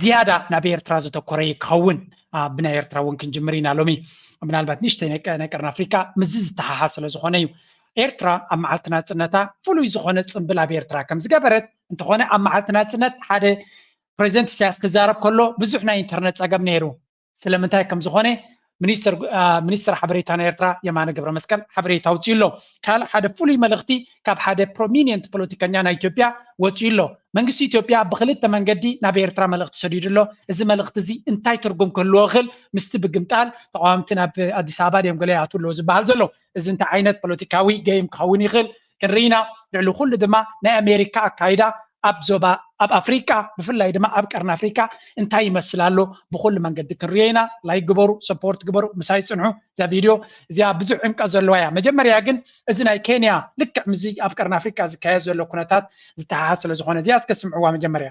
ዝያዳ ናብ ኤርትራ ዘተኮረ እዩ ክኸውን ብናይ ኤርትራ እውን ክንጅምር ኢና ሎሚ ምናልባት ንእሽተይ ናይ ቀርኒ ኣፍሪቃ ምስዚ ዝተሓሓዝ ስለ ዝኾነ እዩ ኤርትራ ኣብ መዓልቲ ናፅነታ ፍሉይ ዝኾነ ፅምብል ኣብ ኤርትራ ከም ዝገበረት እንተኾነ ኣብ መዓልቲ ናፅነት ሓደ ፕሬዚደንት ኢሳያስ ክዛረብ ከሎ ብዙሕ ናይ ኢንተርነት ፀገም ነይሩ ስለምንታይ ከም ዝኾነ ሚኒስትር ሚኒስትር ሓበሬታ ናይ ኤርትራ የማነ ገብረመስቀል ሓበሬታ ኣውፅኡ ኣሎ ካልእ ሓደ ፍሉይ መልእኽቲ ካብ ሓደ ፕሮሚኒየንት ፖለቲከኛ ናይ ኢትዮጵያ ወፅኡ ኣሎ መንግስቲ ኢትዮጵያ ብክልተ መንገዲ ናብ ኤርትራ መልእኽቲ ሰዲዱ ኣሎ እዚ መልእኽቲ እዚ እንታይ ትርጉም ክህልዎ ይኽእል ምስቲ ብግምጣል ተቃዋምቲ ናብ ኣዲስ ኣበባ ድዮም ገለ ይኣትዉ ኣለዎ ዝበሃል ዘሎ እዚ እንታይ ዓይነት ፖለቲካዊ ገይም ክኸውን ይኽእል ሕርይና ልዕሊ ኩሉ ድማ ናይ ኣሜሪካ ኣካይዳ ኣብ ዞባ ኣብ ኣፍሪቃ ብፍላይ ድማ ኣብ ቀርኒ ኣፍሪቃ እንታይ ይመስል ኣሎ ብኩሉ መንገዲ ክንሪኦ ኢና ላይክ ግበሩ ሰፖርት ግበሩ ምሳይ ፅንሑ እዛ ቪድዮ እዚኣ ብዙሕ ዕምቀት ዘለዋ እያ መጀመርያ ግን እዚ ናይ ኬንያ ልክዕ ምስዚ ኣብ ቀርኒ ኣፍሪቃ ዝካየድ ዘሎ ኩነታት ዝተሓሓዝ ስለ ዝኾነ እዚኣ እስከ ስምዕዋ መጀመርያ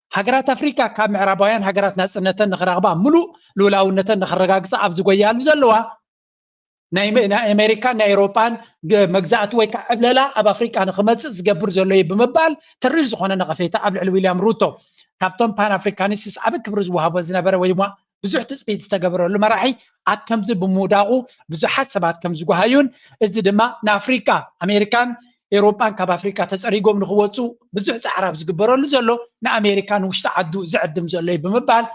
ሃገራት ኣፍሪቃ ካብ ምዕራባውያን ሃገራት ናጽነተን ንክረኽባ ምሉእ ልኡላውነተን ንክረጋግጻ ኣብ ዝጎያሉ ዘለዋ ናይ ኣሜሪካን ናይ ኤውሮጳን መግዛእቲ ወይ ከዓ ዕብለላ ኣብ ኣፍሪቃ ንክመፅእ ዝገብር ዘሎ እዩ ብምባል ተሪር ዝኾነ ነቐፌታ ኣብ ልዕሊ ዊልያም ሩቶ ካብቶም ፓን ኣፍሪካኒስትስ ዓበ ክብሪ ዝወሃቦ ዝነበረ ወይ ድማ ብዙሕ ትፅቢት ዝተገበረሉ መራሒ ኣብ ከምዚ ብምውዳቑ ብዙሓት ሰባት ከም ዝጓሃዩን እዚ ድማ ንኣፍሪቃ ኣሜሪካን ኤውሮጳን ካብ ኣፍሪቃ ተፀሪጎም ንክወፁ ብዙሕ ፃዕሪ ኣብ ዝግበረሉ ዘሎ ንኣሜሪካ ንውሽጢ ዓዱ ዝዕድም ዘሎ እዩ ብምባል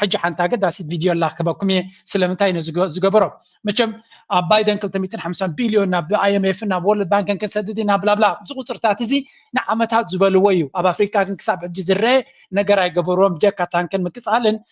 ሕጂ ሓንቲ ኣገዳሲት ቪድዮ ኣላ ክበኩም እየ ስለምንታይ ነዚ ዝገበሮ መቸም ኣብ ባይደን 250 ቢልዮን ናብ ኣይኤምኤፍ ናብ ወርልድ ባንክን ክንሰድድ ኢና ብላብላ እዚ ቁፅርታት እዚ ንዓመታት ዝበልዎ እዩ ኣብ ኣፍሪካ ግን ክሳብ ሕጂ ዝረአ ነገር ኣይገበርዎም ጀካ ታንክን ምቅፃልን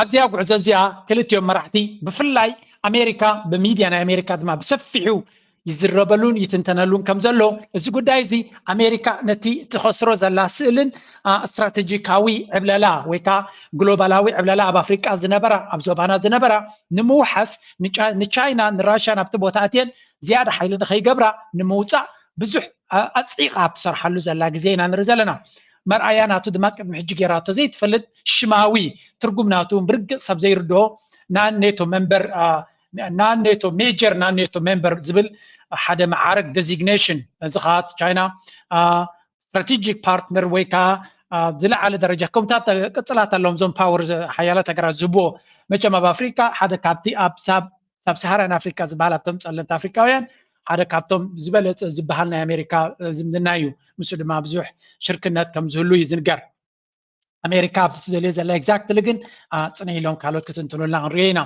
ኣብዚኣ ጉዕዞ እዚኣ ክልቲኦም መራሕቲ ብፍላይ ኣሜሪካ ብሚድያ ናይ ኣሜሪካ ድማ ብሰፊሑ ይዝረበሉን ይትንተነሉን ከም ዘሎ እዚ ጉዳይ እዚ ኣሜሪካ ነቲ ትኸስሮ ዘላ ስእልን ስትራቴጂካዊ ዕብለላ ወይ ከዓ ግሎባላዊ ዕብለላ ኣብ ኣፍሪቃ ዝነበራ ኣብ ዞባና ዝነበራ ንምውሓስ ንቻይና ንራሽያ ናብቲ ቦታ እትየን ዝያዳ ሓይሊ ንኸይገብራ ንምውፃእ ብዙሕ ኣፅዒቃ ኣብ ትሰርሓሉ ዘላ ግዜ ኢና ንርኢ ዘለና መርኣያ ናቱ ድማ ቅድሚ ሕጂ ጌራቶ ዘይትፈልጥ ሽማዊ ትርጉም ናቱ ብርግጽ ሰብ ዘይርድኦ ናኔቶ መንበር ናኔቶ ሜጀር ናኔቶ መንበር ዝብል ሓደ መዓርግ ዴዚግኔሽን ነዚ ከዓ ቻይና ስትራቴጂክ ፓርትነር ወይ ከዓ ዝለዓለ ደረጃ ከምታት ቅፅላት ኣለዎም እዞም ፓወር ሓያላት ሃገራት ዝህብዎ መቸም ኣብ ኣፍሪካ ሓደ ካብቲ ኣብ ሳብ ሳብ ሳሃራን ኣፍሪካ ዝበሃል ኣብቶም ፀለምቲ ኣፍሪካውያን ሓደ ካብቶም ዝበለፀ ዝበሃል ናይ ኣሜሪካ ዝምድና እዩ ንሱ ድማ ብዙሕ ሽርክነት ከም ዝህሉ እዩ ዝንገር ኣሜሪካ ኣብዚ ትደልዮ ዘላ ኤግዛክትሊ ግን ፅነ ኢሎም ካልኦት ክትንትኑልና ክንሪኦ ኢና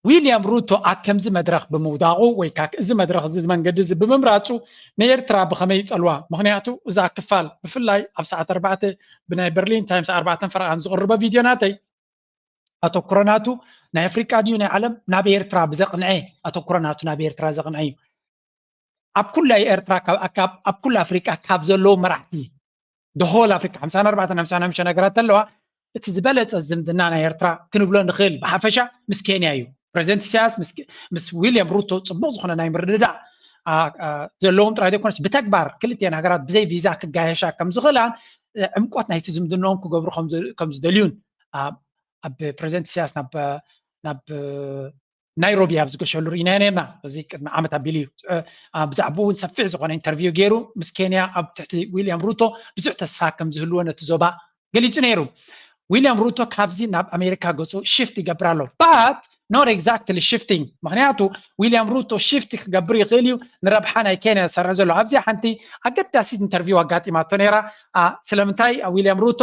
ዊልያም ሩቶ ኣብ ከምዚ መድረኽ ብምውዳቑ ወይ ከዓ እዚ መድረኽ እዚ መንገዲ እዚ ብምምራፁ ንኤርትራ ብኸመይ ይፀልዋ ምክንያቱ እዛ ክፋል ብፍላይ ኣብ ሰዓት ኣርባዕተ ብናይ በርሊን ታይምስ ኣርባዕተን ፈረቓን ዝቕርበ ቪድዮ ናተይ ኣተኩሮ ናቱ ናይ ኣፍሪቃ ድዩ ናይ ዓለም ናብ ኤርትራ ብዘቕንዐ ኣተኩሮ ናቱ ናብ ኤርትራ ዘቕንዐ እዩ ኣብ ኩላ ኤርትራ ኣብ ኩላ ኣፍሪቃ ካብ ዘለዉ መራሕቲ ደሆል ኣፍሪቃ ሓምሳን ኣርባዕተን ሓምሳን ሓምሽተ ነገራት ኣለዋ እቲ ዝበለፀ ዝምድና ናይ ኤርትራ ክንብሎ ንኽእል ብሓፈሻ ምስ ኬንያ እዩ ፕሬዚደንት ኢሳያስ ምስ ዊልያም ሩቶ ፅቡቕ ዝኾነ ናይ ምርድዳእ ዘለዎም ጥራይ ዘይኮነስ ብተግባር ክልቲኤን ሃገራት ብዘይ ቪዛ ክጋየሻ ከም ዝኽእላን ዕምቆት ናይቲ ዝምድንኦም ክገብሩ ከም ዝደልዩን ኣብ ፕረዚደንት ኢሳያስ ናብ ናይሮቢ ኣብ ዝገሸሉ ርኢና ነርና እዚ ቅድሚ ዓመት ኣቢሉ እዩ ብዛዕባ እውን ሰፊሕ ዝኾነ ኢንተርቪው ገይሩ ምስ ኬንያ ኣብ ትሕቲ ዊልያም ሩቶ ብዙሕ ተስፋ ከም ዝህልዎ ነቲ ዞባ ገሊጹ ነይሩ ዊልያም ሩቶ ካብዚ ናብ ኣሜሪካ ገጹ ሽፍት ይገብር ኣሎ ባት ኖት ኤግዛክትሊ ሽፍቲንግ ምክንያቱ ዊልያም ሩቶ ሽፍት ክገብር ይኽእል እዩ ንረብሓ ናይ ኬንያ ዝሰርሕ ዘሎ ኣብዚኣ ሓንቲ ኣገዳሲት ኢንተርቪው ኣጋጢማቶ ነይራ ስለምንታይ ዊልያም ሩቶ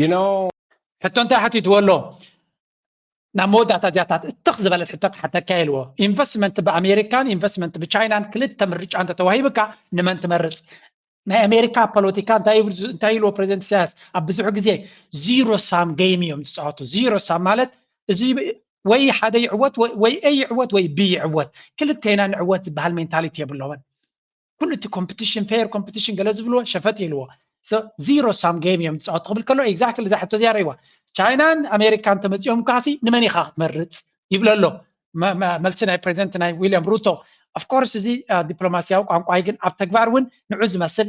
You know ሕቶ እንታይ ሓቲትዎ ኣሎ ናብ መወዳእታ እዚያታት እትኽ ዝበለት ሕቶ ክሓተካ ኢልዎ ኢንቨስትመንት ብኣሜሪካን ኢንቨስትመንት ብቻይናን ክልተ ምርጫ እንተተዋሂብካ ንመን ትመርፅ ናይ ኣሜሪካ ፖለቲካ እንታይ ኢልዎ ፕሬዚደንት ኢሳያስ ኣብ ብዙሕ ግዜ ዚሮ ሳም ገይም እዮም ዝፃወቱ ዚሮ ሳም ማለት እዚ ወይ ሓደ ይዕወት ወይ ኤ ይዕወት ወይ ቢ ይዕወት ክልተና ንዕወት ዝበሃል ሜንታሊቲ የብሎምን ኩሉ እቲ ኮምፕቲሽን ፌር ኮምፕቲሽን ገለ ዝብልዎ ሸፈጥ ኢልዎ ዚሮ ሳም ጌም እዮም ዝፃወቱ ክብል ከሎ ኤግዛክትሊ እዛ ሕቶ እዚኣ ረይዋ ቻይናን ኣሜሪካን እንተመፂኦም ከዓሲ ንመን ኢኻ ክትመርፅ ይብሎ ኣሎ መልሲ ናይ ፕሬዚደንት ናይ ዊልያም ሩቶ ኣፍኮርስ እዚ ዲፕሎማሲያዊ ቋንቋይ ግን ኣብ ተግባር እውን ንዑ ዝመስል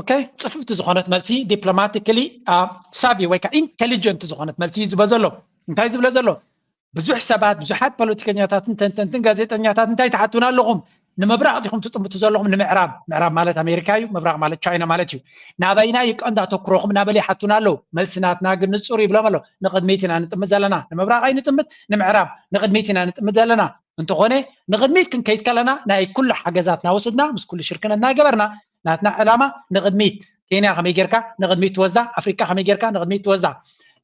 ኦኬ ጽፍፍቲ ዝኾነት መልሲ ዲፕሎማቲካሊ ሳቪ ወይ ከዓ ኢንቴሊጀንት ዝኾነት መልሲ እዩ ዝበ ዘሎ እንታይ ዝብለ ዘሎ ብዙሕ ሰባት ብዙሓት ፖለቲከኛታትን ተንተንትን ጋዜጠኛታት እንታይ ትሓቱና ኣለኹም ንምብራቕ ዲኹም ትጥምቱ ዘለኹም ንምዕራብ ምዕራብ ማለት ኣሜሪካ እዩ ምብራቕ ማለት ቻይና ማለት እዩ ናበይና እዩ ቀንዲ ኣተኩሮኹም እናበለ ይሓቱና ኣለዉ መልሲ ናትና ግን ንፁር ይብሎም ኣሎ ንቅድሚት ኢና ንጥምት ዘለና ንምብራቕ ኣይንጥምት ንምዕራብ ንቅድሚት ኢና ንጥምት ዘለና እንተኾነ ንቅድሚት ክንከይድ ከለና ናይ ኩሉ ሓገዛትና ወስድና ምስ ኩሉ ሽርክነት እናገበርና ናትና ዕላማ ንቕድሚት ኬንያ ከመይ ጌርካ ንቕድሚት ትወስዳ ኣፍሪቃ ከመይ ጌርካ ንቕድሚት ትወስዳ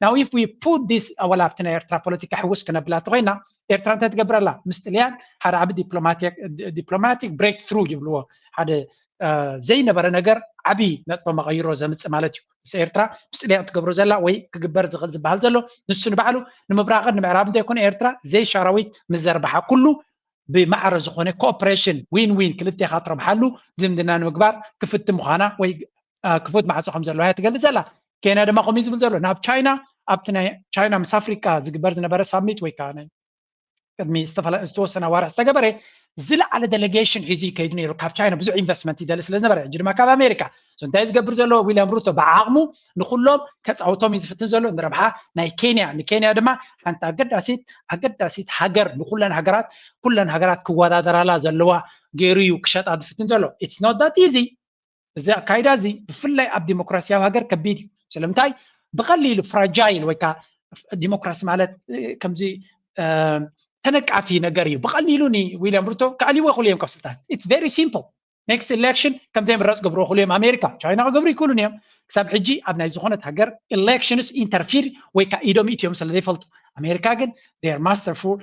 ናው ኢፍ ዊ ፑት ዲስ ወላ ኣብቲ ናይ ኤርትራ ፖለቲካ ሕውስ ክነብላ እንተኮይና ኤርትራ እንታይ ትገብር ኣላ ምስ ጥልያን ሓደ ዓቢ ዲፕሎማቲክ ብሬክ ትሩ ይብልዎ ሓደ ዘይነበረ ነገር ዓቢ ነጥበ መቐይሮ ዘምፅእ ማለት እዩ ምስ ኤርትራ ምስ ጥልያን ትገብሮ ዘላ ወይ ክግበር ዝኽእል ዝበሃል ዘሎ ንሱ ንባዕሉ ንምብራቕን ንምዕራብ እንተይኮነ ኤርትራ ዘይሻራዊት ምዘርባሓ ኩሉ ብማዕረ ዝኾነ ኮኦፕሬሽን ዊን ዊን ክልቴኻ ትረብሓሉ ዝምድና ንምግባር ክፍቲ ምዃና ወይ ክፉት ማዕፆ ከም ዘለዋ እያ ትገልፅ ዘላ ኬንያ ድማ ከምኡ ዝብል ዘሎ ናብ ቻይና ኣብቲ ናይ ቻይና ምስ ኣፍሪቃ ዝግበር ዝነበረ ሳሚት ወይ ከዓ ናይ ቅድሚ ዝተወሰነ ኣዋርሕ ዝተገበረ ዝለዓለ ደሌጌሽን ሒዙ ይከይድ ነይሩ ካብ ቻይና ብዙሕ ኢንቨስትመንት ይደሊ ስለ ዝነበረ ሕጂ ድማ ካብ ኣሜሪካ እንታይ ዝገብር ዘሎ ዊልያም ሩቶ ብዓቕሙ ንኩሎም ከፃውቶም እዩ ዝፍትን ዘሎ ንረብሓ ናይ ኬንያ ንኬንያ ድማ ሓንቲ ኣገዳሲት ኣገዳሲት ሃገር ንኩለን ሃገራት ኩለን ሃገራት ክወዳደራላ ዘለዋ ገይሩ እዩ ክሸጣ ዝፍትን ዘሎ ኢትስ ኖት ዳት ኢዚ እዚ ኣካይዳ እዚ ብፍላይ ኣብ ዲሞክራሲያዊ ሃገር ከቢድ እዩ ስለምንታይ ብቐሊሉ ፍራጃይል ወይ ከዓ ዲሞክራሲ ማለት ከምዚ ተነቃፊ ነገር እዩ ብቐሊሉ ንዊልያም ሩቶ ክኣልይዎ ይኽእሉ እዮም ካብ ስልጣን ኢትስ ቨሪ ሲምፕል ኔክስት ኤሌክሽን ከምዘይ ምረፅ ገብሮ ክሉ እዮም ኣሜሪካ ቻይና ክገብሩ ይክእሉን እዮም ክሳብ ሕጂ ኣብ ናይ ዝኾነት ሃገር ኤሌክሽንስ ኢንተርፊር ወይ ከዓ ኢዶም ኢትዮም ስለ ዘይፈልጡ ኣሜሪካ ግን ር ማስተርፉል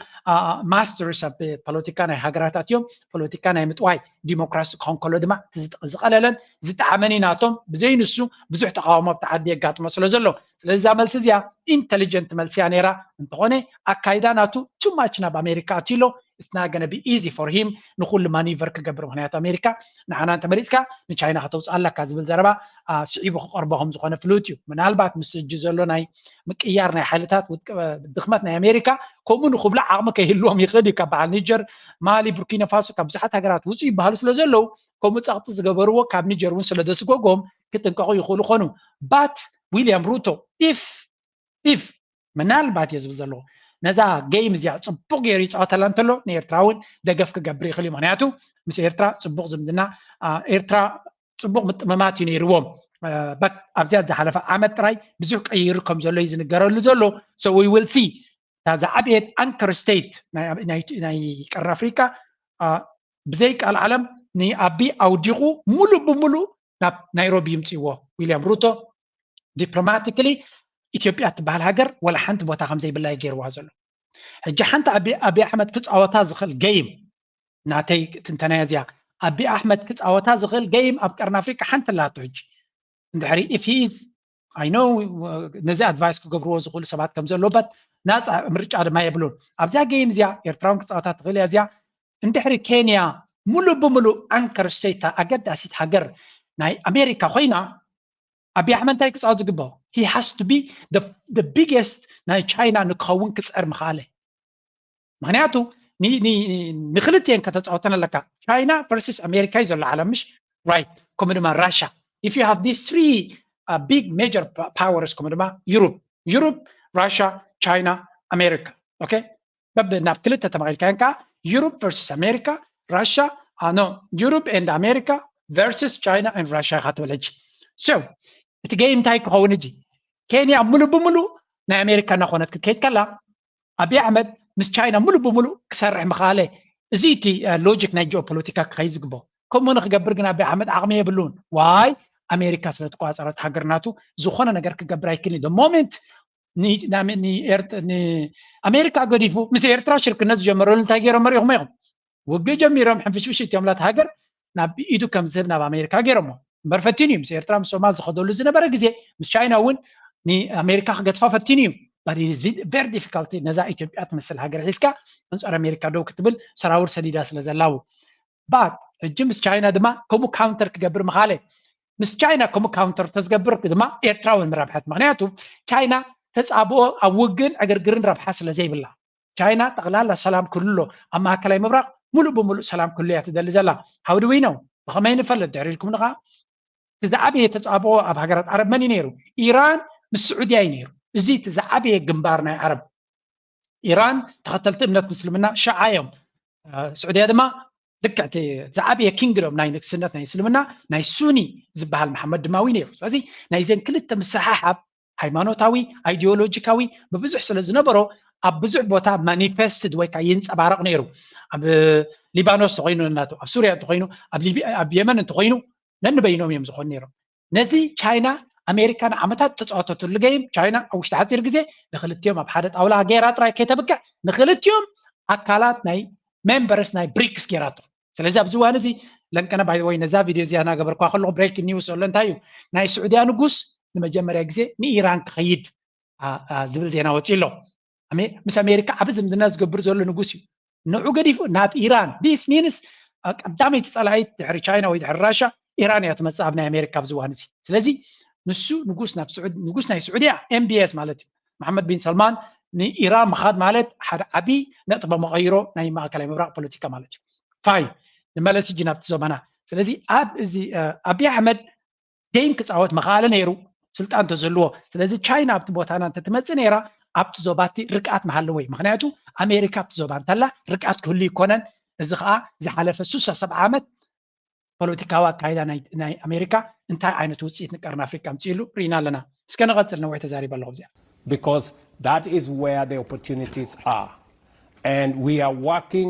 ማስተርስ ኣብ ፖለቲካ ናይ ሃገራታት እዮም ፖለቲካ ናይ ምጥዋይ ዲሞክራሲ ክኾን ከሎ ድማ ዝቐለለን ዝጠዓመን ናቶም ብዘይ ንሱ ብዙሕ ተቃውሞ ኣብ ተዓዲ የጋጥሞ ስለ ዘሎ ስለዚ እዛ መልሲ እዚኣ ኢንቴሊጀንት መልሲ እያ ነይራ እንተኾነ ኣካይዳ ናቱ ቱማች ናብ ኣሜሪካ ኣትሎ ኢትስ ናት ጎነ ቢ ኢዚ ፎር ሂም ንኹሉ ማኒቨር ክገብር ምኽንያቱ ኣሜሪካ ንዓና እንተመሪፅካ ንቻይና ከተውፅኣ ኣለካ ዝብል ዘረባ ስዒቡ ክቐርቦ ከም ዝኾነ ፍሉጥ እዩ ምናልባት ምስ ሕጂ ዘሎ ናይ ምቅያር ናይ ሓይልታት ድኽመት ናይ ኣሜሪካ ከምኡ ንክብሉ ዓቕሚ ከይህልዎም ይኽእል እዩ ካብ በዓል ኒጀር ማሊ ቡርኪና ፋሶ ካብ ብዙሓት ሃገራት ውፅኡ ይበሃሉ ስለ ዘለዉ ከምኡ ፀቕጢ ዝገበርዎ ካብ ኒጀር እውን ስለ ዘስጎጎም ክጥንቀቑ ይኽእሉ ኾኑ ባት ዊልያም ሩቶ ኢፍ ኢፍ ምናልባት እየ ዝብል ዘለኹ ነዛ ገይም እዚኣ ፅቡቅ ገይሩ ይፃወተላ እንተሎ ንኤርትራ እውን ደገፍ ክገብር ይኽእል እዩ ምክንያቱ ምስ ኤርትራ ፅቡቅ ዝምድና ኤርትራ ፅቡቅ ምጥምማት እዩ ነይርዎም በት ኣብዚኣ ዝሓለፈ ዓመት ጥራይ ብዙሕ ቀይሩ ከም ዘሎ እዩ ዝንገረሉ ዘሎ ሶ ዊ ዊል ሲ እታ ዝዓበየት ኣንከር ስቴት ናይ ቀር ኣፍሪቃ ብዘይ ቃል ዓለም ንኣቢ ኣውዲቑ ሙሉእ ብሙሉእ ናብ ናይሮቢ ይምፅዎ ዊልያም ሩቶ ዲፕሎማቲክሊ ኢትዮጵያ እትበሃል ሃገር ወላ ሓንቲ ቦታ ከም ዘይብላ እዩ ገይርዋ ዘሎ ሕጂ ሓንቲ ኣቢ ኣሕመድ ክፃወታ ዝኽእል ገይም ናተይ ትንተናያ እዚያ ኣቢ ኣሕመድ ክፃወታ ዝኽእል ገይም ኣብ ቀርኒ ኣፍሪቃ ሓንቲ ኣላቶ ሕጂ እንድሕሪ ኢፍ ሂዝ ኣይ ኖ ነዚ ኣድቫይስ ክገብርዎ ዝኽእሉ ሰባት ከም ዘለዎበት ናፃ ምርጫ ድማ የብሉን ኣብዚያ ገይም እዚያ ኤርትራውን ክፃወታ ትኽእል እያ እዚያ እንድሕሪ ኬንያ ሙሉእ ብምሉእ ኣንከር ስተይታ ኣገዳሲት ሃገር ናይ ኣሜሪካ ኮይና ኣቢ ኣሕመድ እንታይ ክፃወት ዝግባኦ ሂ ሃስ ቱ ቢ ደ ቢገስት ናይ ቻይና ንክኸውን ክፀር ምኽኣለ ምክንያቱ ንክልትኤን ከተፃወተን ኣለካ ቻይና ቨርስስ ኣሜሪካ እዩ ዘሎ ዓለም ምሽ ራይት ከምኡ ድማ ራሻ ኢፍ ዩ ሃቭ ዲስ ትሪ ቢግ ሜጀር ፓወርስ ከምኡ ድማ ዩሩብ ዩሩብ ራሻ ቻይና ኣሜሪካ ኦኬ በብ ናብ ክልተ ተመቒልካዮን ከዓ ዩሮፕ ቨርስስ ኣሜሪካ ራሻ ኣኖ ዩሮፕ ኤንድ ኣሜሪካ ቨርስስ ቻይና ኤንድ ራሻ ኢኻ ትብል ሕጂ ሶ እቲ ገይም እንታይ ክኸውን ሕጂ ኬንያ ሙሉእ ብምሉእ ናይ ኣሜሪካ እናኾነት ክትከይድ ከላ ኣብይ ኣሕመድ ምስ ቻይና ሙሉእ ብምሉእ ክሰርሕ ምኽኣለ እዚ እቲ ሎጂክ ናይ ጂኦፖለቲካ ክኸይድ ዝግቦ ከምኡ ንክገብር ግን ኣብይ ኣሕመድ ዓቕሚ የብሉን ዋይ ኣሜሪካ ስለትቆፃፀረት ሃገር ናቱ ዝኾነ ነገር ክገብር ኣይክልን ሞሜንት ንኣሜሪካ ገዲፉ ምስ ኤርትራ ሽርክነት ዝጀመረሉ እንታይ ገይሮም መሪኹም ኢኹም ውግእ ጀሚሮም ሕንፍሽፍሽ እትዮምላት ሃገር ናብ ኢዱ ከም ዝህብ ናብ ኣሜሪካ ገይሮሞ እምበር ፈቲኑ እዩ ምስ ኤርትራ ምስ ሶማል ዝኸደሉ ዝነበረ ግዜ ምስ ቻይና እውን ንኣሜሪካ ክገድፋ ፈቲኑ እዩ ቨሪ ዲፊካልቲ ነዛ ኢትዮጵያ ትመስል ሃገር ሒዝካ ኣንፃር ኣሜሪካ ደው ክትብል ሰራውር ሰዲዳ ስለ ዘላው ባት ሕጂ ምስ ቻይና ድማ ከምኡ ካውንተር ክገብር ምኻለ ምስ ቻይና ከምኡ ካውንተር ተዝገብር ድማ ኤርትራውን ምረብሐት ምክንያቱ ቻይና ተፃብኦ ኣብ ውግን ዕግርግርን ረብሓ ስለ ዘይብላ ቻይና ጠቕላላ ሰላም ክልሎ ኣብ ማእከላይ ምብራቕ ሙሉእ ብምሉእ ሰላም ክልሎ እያ ትደሊ ዘላ ሃው ድዊ ነው ብኸመይ ንፈልጥ ድሕሪ ኢልኩም ንኻ እቲ ዝዓበየ ተፃብኦ ኣብ ሃገራት ዓረብ መን እዩ ነይሩ ኢራን ምስ ስዑድያ እዩ ነይሩ እዚ እቲ ዝዓበየ ግንባር ናይ ዓረብ ኢራን ተኸተልቲ እምነት ምስልምና ሸዓ እዮም ስዑድያ ድማ ልክዕ እቲ ዝዓበየ ኪንግዶም ናይ ንግስነት ናይ እስልምና ናይ ሱኒ ዝበሃል መሓመድ ድማ ውን ነይሩ ስለዚ ናይዘን ክልተ ምስሓሓብ ሃይማኖታዊ ኣይዲዮሎጂካዊ ብብዙሕ ስለ ዝነበሮ ኣብ ብዙሕ ቦታ ማኒፌስትድ ወይ ከዓ ይንፀባረቕ ነይሩ ኣብ ሊባኖስ እንተኮይኑ ናቱ ኣብ ሱርያ እንተኮይኑ ኣብ የመን እንተኮይኑ ነንበይኖም እዮም ዝኾኑ ነይሮም ነዚ ቻይና ኣሜሪካ ንዓመታት ተፃወተትሉ ገይም ቻይና ኣብ ውሽጢ ሓፂር ግዜ ንክልቲኦም ኣብ ሓደ ጣውላ ገይራ ጥራይ ከይተብቅዕ ንክልቲኦም ኣካላት ናይ ሜምበርስ ናይ ብሪክስ ገይራቶ ስለዚ ኣብዚ እዋን እዚ ለንቀነ ባይ ወይ ነዛ ቪድዮ እዚኣ እናገበርኳ ከለኹ ብሬክ ኒውስ ኣሎ እንታይ እዩ ናይ ስዑድያ ንጉስ ንመጀመርያ ግዜ ንኢራን ክኸይድ ዝብል ዜና ወፂኡ ኣሎ ምስ ኣሜሪካ ዓብ ዝምድና ዝገብር ዘሎ ንጉስ እዩ ንዑ ገዲፉ ናብ ኢራን ዲስ ሚንስ ቀዳመይቲ ፀላኢት ድሕሪ ቻይና ወይ ድሕሪ ራሻ ኢራን እያ ትመፅእ ኣብ ናይ ኣሜሪካ ኣብዚ እዋን እዚ ስለዚ ንሱ ንጉስ ናብ ስዑድ ንጉስ ናይ ስዑድያ ኤምቢኤስ ማለት እዩ መሓመድ ቢን ሰልማን ንኢራን ምኻድ ማለት ሓደ ዓብዪ ነጥበ መቐይሮ ናይ ማእከላይ ምብራቕ ፖለቲካ ማለት እዩ ፋይን ንመለስ እጂ ናብቲ ዞባና ስለዚ ኣብ እዚ ኣቢ ኣሕመድ ጌም ክፃወት መኸኣለ ነይሩ ስልጣን ተዘልዎ ስለዚ ቻይና ኣብቲ ቦታና እንተትመፅእ ነይራ ኣብቲ ዞባቲ ርግኣት መሃለወይ ምክንያቱ ኣሜሪካ ኣብቲ ዞባ እንተላ ርግኣት ክህሉ ይኮነን እዚ ከዓ ዝሓለፈ ሱሳ ሰብዓ ዓመት ፖለቲካዊ ኣካይዳ ናይ ኣሜሪካ እንታይ ዓይነት ውፅኢት ንቀርኒ ኣፍሪካ ምፅእሉ ርኢና ኣለና እስከ ንቐፅል ነዊሕ ተዛሪበ ኣለኹ እዚኣ because that is where the opportunities are and we are working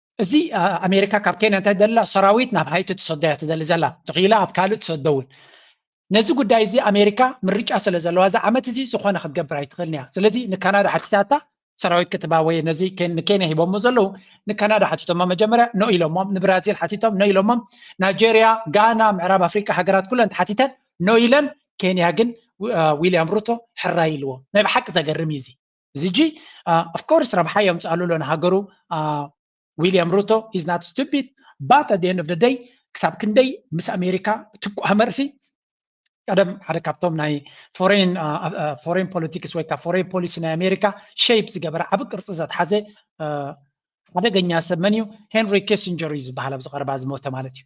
እዚ ኣሜሪካ ካብ ኬንያ እንታይ ደላ ሰራዊት ናብ ሃይቲ ትሰዶያ ትደሊ ዘላ ተኽኢላ ኣብ ካልእ ትሰደውን ነዚ ጉዳይ እዚ ኣሜሪካ ምርጫ ስለ ዘለዋ እዚ ዓመት እዚ ዝኾነ ክትገብር ኣይትኽእልን እያ ስለዚ ንካናዳ ሓቲታታ ሰራዊት ክትባ ወይ ነዚ ንኬንያ ሂቦሞ ዘለዉ ንካናዳ ሓቲቶሞ መጀመርያ ኖ ኢሎሞም ንብራዚል ሓቲቶም ኖ ኢሎሞም ናይጀርያ ጋና ምዕራብ ኣፍሪቃ ሃገራት ኩለን ተሓቲተን ኖ ኢለን ኬንያ ግን ዊልያም ሩቶ ሕራይ ኢልዎ ናይ ብሓቂ ዘገርም እዩ እዚ እዚ እጂ ኣፍኮርስ ረብሓ የምፅኣሉ ኣሎ ንሃገሩ ዊልያም ሩቶ ኢዝ ናት ስቱፒድ ባት ኣት ኤንድ ኦፍ ደይ ክሳብ ክንደይ ምስ ኣሜሪካ ትቋመርሲ ቀደም ሓደ ካብቶም ናይ ፎሬን ፎሬን ፖለቲክስ ወይ ከዓ ፎሬን ፖሊሲ ናይ ኣሜሪካ ሸይፕ ዝገበረ ዓብ ቅርፂ ዘትሓዘ ሓደገኛ ሰብ መን እዩ ሄንሪ ኪሲንጀር እዩ ዝበሃል ኣብዚ ቀረባ ዝሞተ ማለት እዩ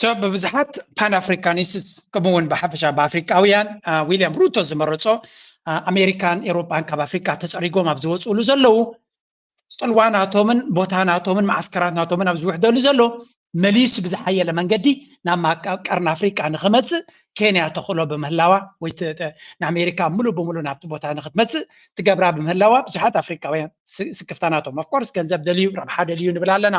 ሶ ብብዙሓት ፓን ኣፍሪካኒስትስ ከምኡ እውን ብሓፈሻ ብኣፍሪካውያን ዊልያም ሩቶ ዝመረፆ ኣሜሪካን ኤሮፓን ካብ ኣፍሪካ ተፀሪጎም ኣብ ዝወፅእሉ ዘለው ፅልዋ ናቶምን ቦታ ናቶምን መዓስከራት ናቶምን ኣብ ዝውሕደሉ ዘሎ መሊሱ ብዝሓየለ መንገዲ ናብ ቀርኒ ኣፍሪቃ ንክመፅእ ኬንያ ተኽእሎ ብምህላዋ ወይ ንኣሜሪካ ሙሉእ ብምሉእ ናብቲ ቦታ ንክትመፅእ ትገብራ ብምህላዋ ብዙሓት ኣፍሪካውያን ስክፍታናቶም ኣፍኮርስ ገንዘብ ደልዩ ረብሓ ደልዩ ንብል ኣለና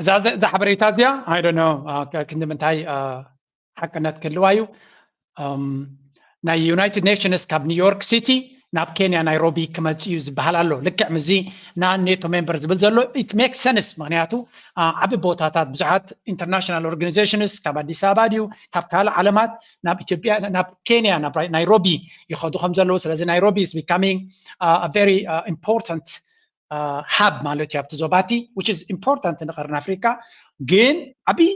እዛ እዛ ሓበሬታ እዚኣ ኣይ ዶንት ኖ ክንዲ ምንታይ ሓቅነት ክህልዋ እዩ ናይ ዩናይትድ ኔሽንስ ካብ ኒውዮርክ ሲቲ ናብ ኬንያ ናይሮቢ ክመፅ እዩ ዝበሃል ኣሎ ልክዕ ምዚ ንኔቶ ሜምበር ዝብል ዘሎ ኢት ሜክ ሰንስ ምክንያቱ ዓብ ቦታታት ብዙሓት ኢንተርናሽናል ኦርጋኒዜሽንስ ካብ ኣዲስ ኣበባ ድዩ ካብ ካልእ ዓለማት ናብ ኢትዮጵያ ናብ ኬንያ ናብ ናይሮቢ ይኸዱ ከም ዘለዉ ስለዚ ናይሮቢ ኢስ ቢካሚንግ ቨሪ ኢምፖርታንት ሃብ ማለት እዩ ኣብቲ ዞባቲ ዊች ኢዝ ኢምፖርታንት ንቀርኒ ኣፍሪካ ግን ዓብዪ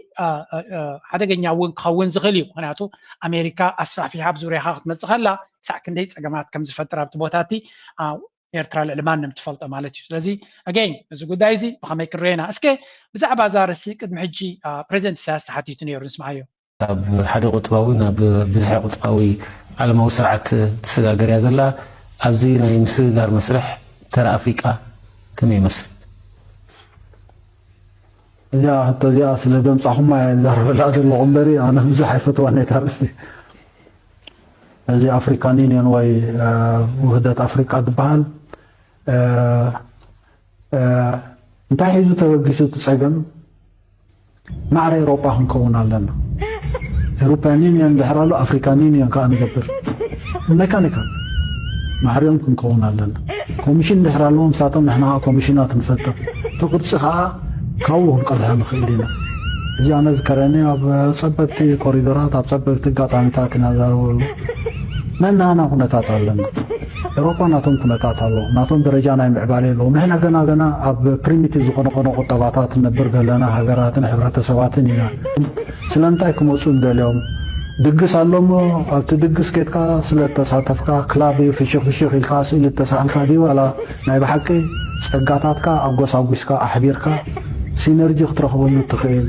ሓደገኛ እውን ክኸውን ዝኽእል እዩ ምክንያቱ ኣሜሪካ ኣስፋሕፊሓ ኣብ ዙርያኻ ክትመፅእ ከላ ክሳዕ ክንደይ ፀገማት ከም ዝፈጥር ኣብቲ ቦታ እቲ ኤርትራ ልዕሊ ማንም ትፈልጦ ማለት እዩ ስለዚ ኣገኝ እዚ ጉዳይ እዚ ብኸመይ ክንሪኦ ኢና እስከ ብዛዕባ እዛ ርእሲ ቅድሚ ሕጂ ፕሬዚደንት ኢሳያስ ተሓቲቱ ነይሩ ንስምዓዮ ካብ ሓደ ቁጥባዊ ናብ ብዝሐ ቁጥባዊ ዓለማዊ ስርዓት ትሰጋገር እያ ዘላ። ኣብዚ ናይ ምስግጋር መስርሕ ተራ ኣፍሪቃ ከመይ ይመስል? እዚኣ ሕቶ እዚኣ ስለ ዘምጻኹማ እየ ዝዛረበላ ዘለኹ እምበሪ ኣነ ብዙሕ ኣይፈትዋን እየ እታ ኣርእስቲ። እዚ ኣፍሪካን ዩኒየን ወይ ውህደት ኣፍሪቃ ዝበሃል እንታይ ሒዙ ተበጊሱ እቲ ጸገም ማዕረ ኤሮጳ ክንከውን ኣለና ኤሮፓያን ዩኒዮን ድሕር ኣሉ ኣፍሪካን ዩኒዮን ካኣ ንገብር መካኒካል ማዕሪኦም ክንከውን ኣለና ኮሚሽን ድሕር ኣለዎም ንሳቶም ንሕና ካኣ ኮሚሽናት ንፈጥር እቲ ቅርጺ ካኣ ካብኡ ክንቀድሖ ንክእል ኢና እዚ ኣነ ዝከረኒ ኣብ ጸበብቲ ኮሪዶራት ኣብ ጸበብቲ ኣጋጣሚታት ኢና ንዛረበሉ ነናሃና ኩነታት ኣለና ኤሮፓ ናቶም ኩነታት ኣሎ ናቶም ደረጃ ናይ ምዕባሌ ኣሎ ንሕና ገና ገና ኣብ ፕሪሚቲቭ ዝኾነ ቆዶ ቁጠባታት ንነብር ዘለና ሃገራትን ሕብረተሰባትን ኢና ስለምንታይ ክመጹ ንደልዮም ድግስ ኣሎ እሞ ኣብቲ ድግስ ኬድካ ስለ ተሳተፍካ ክላብ እዩ ፍሽኽ ፍሽኽ ኢልካ ስእሊ ተሳእልካ ድዩ ዋላ ናይ ብሓቂ ጸጋታትካ ኣጎሳጒስካ ኣሕቢርካ ሲነርጂ ክትረኽበሉ እትኽእል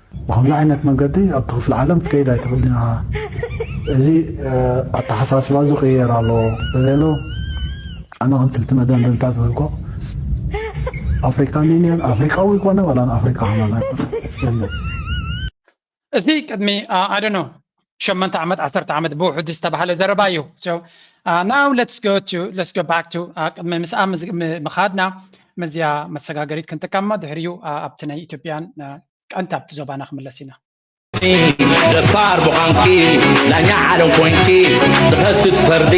ብኸምዚ ዓይነት መንገዲ ኣብቲ ክፍሊ ዓለም ክትከይድ ኣይትኽእልን ኢኻ፣ እዚ ኣተሓሳስባ እዚ ክቕየር ኣለዎ በለ። ኣነ ከምቲ እቲ መደምደምታ ዝበልኩ ኣፍሪካን ዩኒየን ኣፍሪካዊ ይኮነ ዋላ ንኣፍሪካ ከማን ኣይኮነ የለን። እዚ ቅድሚ ኣይ ዶንት ኖው ሸመንተ ዓመት ዓሰርተ ዓመት ብውሕዱ ዝተባህለ ዘረባ እዩ ናው ለትስ ጎ ቱ ለትስ ጎ ባክ ቱ ቅድሚ ምስኣ ምኻድና ምስዚኣ መሰጋገሪት ክንጥቀም እሞ ድሕሪኡ ኣብቲ ናይ ኢትዮጵያን ቀንቲ ኣብቲ ዞባና ክምለስ ኢና ደፋር ብዃንኪ ዳኛ ዓለም ኮንኪ ትኸስት ፈርዲ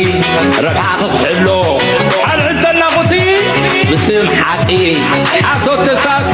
ረብሓኺ ክሕሎ ኣልዕል ተናኹቲ ብስም ሓቂ ሓሶት ተሳሲ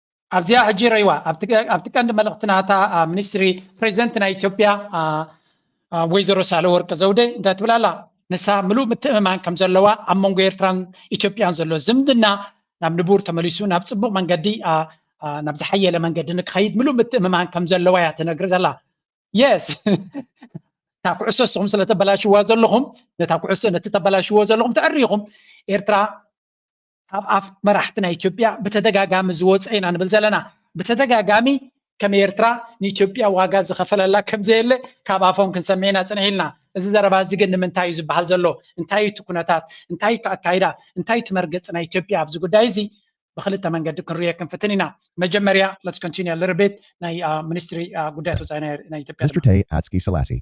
ኣብዚኣ ሕጂ ረይዋ ኣብቲ ቀንዲ መልእኽቲ ናታ ሚኒስትሪ ፕሬዚደንት ናይ ኢትዮጵያ ወይዘሮ ሳለ ወርቂ ዘውደ እንታይ ትብል ኣላ ንሳ ምሉእ ምትእምማን ከም ዘለዋ ኣብ መንጎ ኤርትራን ኢትዮጵያን ዘሎ ዝምድና ናብ ንቡር ተመሊሱ ናብ ፅቡቅ መንገዲ ናብ ዝሓየለ መንገዲ ንክኸይድ ምሉእ ምትእምማን ከም ዘለዋ እያ ትነግሪ ዘላ የስ እታ ኩዕሶ ንስኹም ስለተበላሽዋ ዘለኹም ነታ ኩዕሶ ነቲ ተበላሽዎ ዘለኹም ተዕሪኹም ኤርትራ ካብ ኣፍ መራሕቲ ናይ ኢትዮጵያ ብተደጋጋሚ ዝወፀ ኢና ንብል ዘለና ብተደጋጋሚ ከም ኤርትራ ንኢትዮጵያ ዋጋ ዝኸፈለላ ከም ዘየለ ካብ ኣፎም ክንሰምዕ ኢና ፅንሕ ኢልና እዚ ዘረባ እዚ ግን ንምንታይ እዩ ዝበሃል ዘሎ እንታይ እዩ እቲ ኩነታት እንታይ እዩ እቲ ኣካይዳ እንታይ እዩ እቲ መርገፂ ናይ ኢትዮጵያ ኣብዚ ጉዳይ እዚ ብክልተ መንገዲ ክንሪኦ ክንፍትን ኢና መጀመርያ ለትስ ኮንቲኒ ልርቤት ናይ ሚኒስትሪ ጉዳያት ወፃኢ ናይ ኢትዮጵያ Mr. Tay Atski Selassie.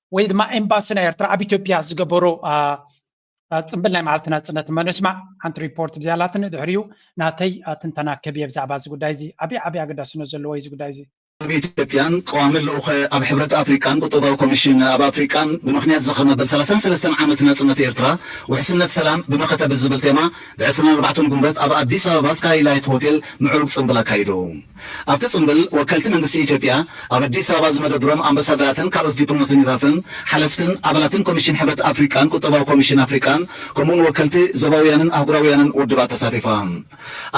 ወይ ድማ ኤምባሲ ናይ ኤርትራ ኣብ ኢትዮጵያ ዝገበሮ ፅምብል ናይ መዓልቲ ናፅነት መነስማዕ ሓንቲ ሪፖርት ብዝያላትኒ ድሕሪኡ ናተይ ትንተና ክህብየ ብዛዕባ እዚ ጉዳይ እዚ ዓብዪ ዓብዪ ኣገዳስነት ዘለዎ እዚ ጉዳይ እዚ ኣብ ኢትዮጵያን ቀዋሚ ልኡኸ ኣብ ሕብረት ኣፍሪቃን ቁጠባዊ ኮሚሽን ኣብ ኣፍሪቃን ብምኽንያት ዝኽሪ መበል ሰላሳን ሰለስተን ዓመት ናጽነት ኤርትራ ውሕስነት ሰላም ብመኸተ ብዝብል ቴማ ብዕስራን ኣርባዕተን ጉንበት ኣብ ኣዲስ ኣበባ ስካይላይት ሆቴል ምዕሩግ ጽምብል ኣካይዱ። ኣብቲ ጽምብል ወከልቲ መንግስቲ ኢትዮጵያ፣ ኣብ ኣዲስ ኣበባ ዝመደብሮም ኣምበሳደራትን ካልኦት ዲፕሎማሰኝታትን፣ ሓለፍትን ኣባላትን ኮሚሽን ሕብረት ኣፍሪቃን ቁጠባዊ ኮሚሽን ኣፍሪቃን ከምኡ'ውን ወከልቲ ዞባውያንን ኣህጉራውያንን ውድባት ተሳቲፎም።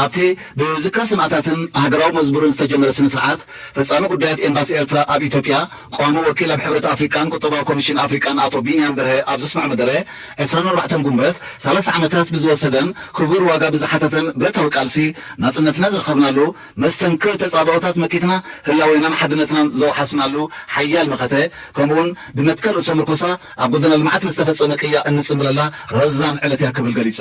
ኣብቲ ብዝክረ ሰማእታትን ሃገራዊ መዝሙርን ዝተጀመረ ስነ-ስርዓት፣ ፈጻሚ ጉዳያት ኤምባሲ ኤርትራ ኣብ ኢትዮጵያ፣ ቀዋሚ ወኪል ኣብ ሕብረት ኣፍሪቃን ቁጠባዊ ኮሚሽን ኣፍሪቃን ኣቶ ቢንያም በርሀ ኣብ ዘስምዖ መደረ፣ ዕስራን ኣርባዕተን ጉንበት ሰላሳ ዓመታት ብዝወሰደን ክቡር ዋጋ ብዝሓተተን ብረታዊ ቃልሲ ናጽነትና ዝረኸብናሉ፣ መስተንክር ተጻብኦታት መኪትና ህላዌናን ሓድነትናን ዘውሓስናሉ ሓያል መኸተ፣ ከምኡ'ውን ብመትከል ርእሰ ምርኮሳ ኣብ ጎደና ልምዓት ንዝተፈጸመ ቅያ እንጽንብለላ ረዛን ዕለት'ያ ክብል ገሊጹ።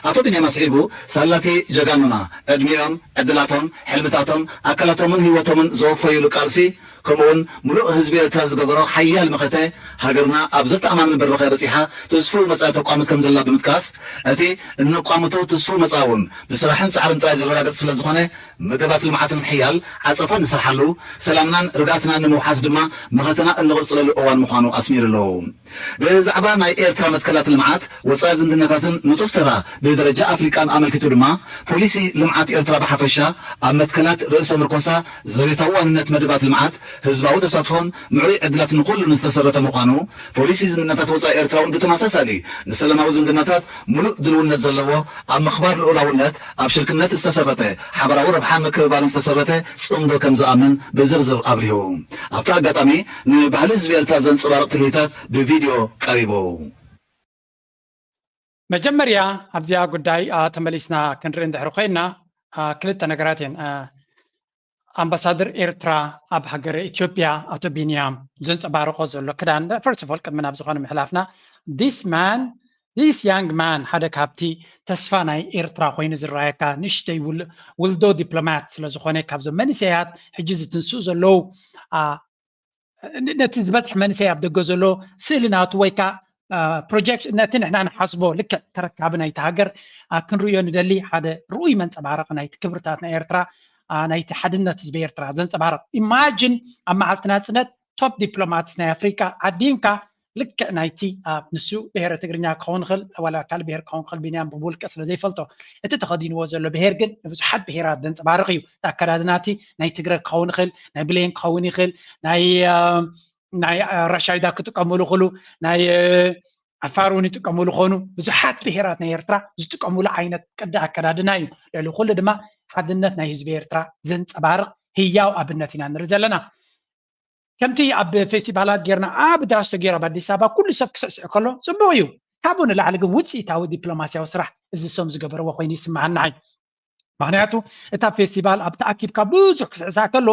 ኣቶ ቢንያም ኣስዒቡ፣ ሳላ'ቲ ጀጋኑና ዕድሚኦም፣ ዕድላቶም፣ ሕልምታቶም፣ ኣካላቶምን ህይወቶምን ዘወፈዩሉ ቃልሲ፣ ከምኡ'ውን ምሉእ ህዝቢ ኤርትራ ዝገበሮ ሓያል መኸተ፣ ሃገርና ኣብ ዘተኣማምን ብራኸ በጺሓ ትስፉው መጻኢ ተቋምት ከምዘላ ብምጥቃስ፣ እቲ እነቋምቶ ትስፉው መጻኢ'ውን ብስራሕን ጻዕርን ጥራይ ዝረጋገጽ ስለዝኾነ መደባት ልምዓት ንምሕያል ዓጸፋ እንሰርሓሉ፣ ሰላምናን ርግኣትናን ንምውሓስ ድማ መኸተና እንቕጽለሉ እዋን ምዃኑ ኣስሚርሉ። ብዛዕባ ናይ ኤርትራ መትከላት ልምዓት፣ ወጻኢ ዝምድናታትን ንጡፍ ተራ ብደረጃ ኣፍሪቃን ኣመልኪቱ ድማ፣ ፖሊሲ ልምዓት ኤርትራ ብሓፈሻ፣ ኣብ መትከላት ርእሰ ምርኮሳ፣ ዘቤታዊ ዋንነት መደባት ልምዓት፣ ህዝባዊ ተሳትፎን ምዕሩይ ዕድላት ንኹሉን ዝተሰረተ ምዃኑ፣ ፖሊሲ ዝምድናታት ወጻኢ ኤርትራ'ውን ብተመሳሳሊ ንሰላማዊ ዝምድናታት ምሉእ ድልውነት ዘለዎ፣ ኣብ ምኽባር ልኡላውነት፣ ኣብ ሽርክነት ዝተሰረተ፣ ሓበራዊ ረብሓን ምክብባርን ዝተሰረተ ጽምዶ ከምዝኣምን ብዝርዝር ኣብሪሁ። ኣብቲ ኣጋጣሚ፣ ንባህሊ ህዝቢ ኤርትራ ዘንጸባርቕ ትርኢታት ብቪድዮ ቀሪቡ። መጀመርያ ኣብዚኣ ጉዳይ ተመሊስና ክንርኢ እንድሕሪ ኮይና ክልተ ነገራት እየን። ኣምባሳደር ኤርትራ ኣብ ሃገረ ኢትዮጵያ ኣቶ ቢንያም ዘንጸባርቆ ዘሎ ክዳን ፈርስት ኦፍ ኦል ቅድሚ ናብ ዝኾነ ምሕላፍና ዲስ ማን This young man ሓደ ካብቲ ተስፋ ናይ ኤርትራ ኮይኑ ዝረኣየካ ንእሽተይ ውልዶ ዲፕሎማት ስለ ዝኾነ ካብዞም መንእሰያት ሕጂ ዝትንስኡ ዘለዉ ነቲ ዝበዝሕ መንእሰይ ኣብ ደገ ዘሎ ስእሊ ናቱ ወይ ከዓ ፕሮጀክት ነቲ ንሕና ንሓስቦ ልክዕ ተረካቢ ናይቲ ሃገር ክንርእዮ ንደሊ ሓደ ርኡይ መንፀባረቂ ናይቲ ክብርታት ናይ ኤርትራ ናይቲ ሓድነት ህዝቢ ኤርትራ ዘንፀባርቕ ኢማጅን ኣብ መዓልቲ ናፅነት ቶፕ ዲፕሎማትስ ናይ ኣፍሪቃ ዓዲምካ ልክዕ ናይቲ ንሱ ብሄረ ትግርኛ ክኸውን ይኽእል ዋላ ካልእ ብሄር ክኸውን ይኽእል ቢንያም ብውልቀ ስለ ዘይፈልጦ እቲ ተኸዲንዎ ዘሎ ብሄር ግን ንብዙሓት ብሄራት ዘንፀባርቕ እዩ እቲ ኣከዳድና እቲ ናይ ትግረ ክኸውን ይኽእል ናይ ብሌን ክኸውን ይኽእል ናይ ናይ ራሻይዳ ክጥቀሙሉ ክሉ ናይ ዓፋር እውን ይጥቀሙሉ ኮኑ ብዙሓት ብሄራት ናይ ኤርትራ ዝጥቀሙሉ ዓይነት ቅዲ ኣከዳድና እዩ ልዕሊ ኩሉ ድማ ሓድነት ናይ ህዝቢ ኤርትራ ዘንፀባርቕ ህያው ኣብነት ኢና ንርኢ ዘለና ከምቲ ኣብ ፌስቲቫላት ጌርና ኣብ ዳስ ተጌሩ ኣብ ኣዲስ ኣበባ ኩሉ ሰብ ክስዕስዕ ከሎ ፅቡቕ እዩ ካብኡ ንላዕሊ ግን ውፅኢታዊ ዲፕሎማስያዊ ስራሕ እዚ ሰም ዝገበርዎ ኮይኑ ይስምዓኒ ንዓይ ምክንያቱ እታ ፌስቲቫል ኣብ ተኣኪብካ ብዙሕ ክስዕሳዕ ከሎ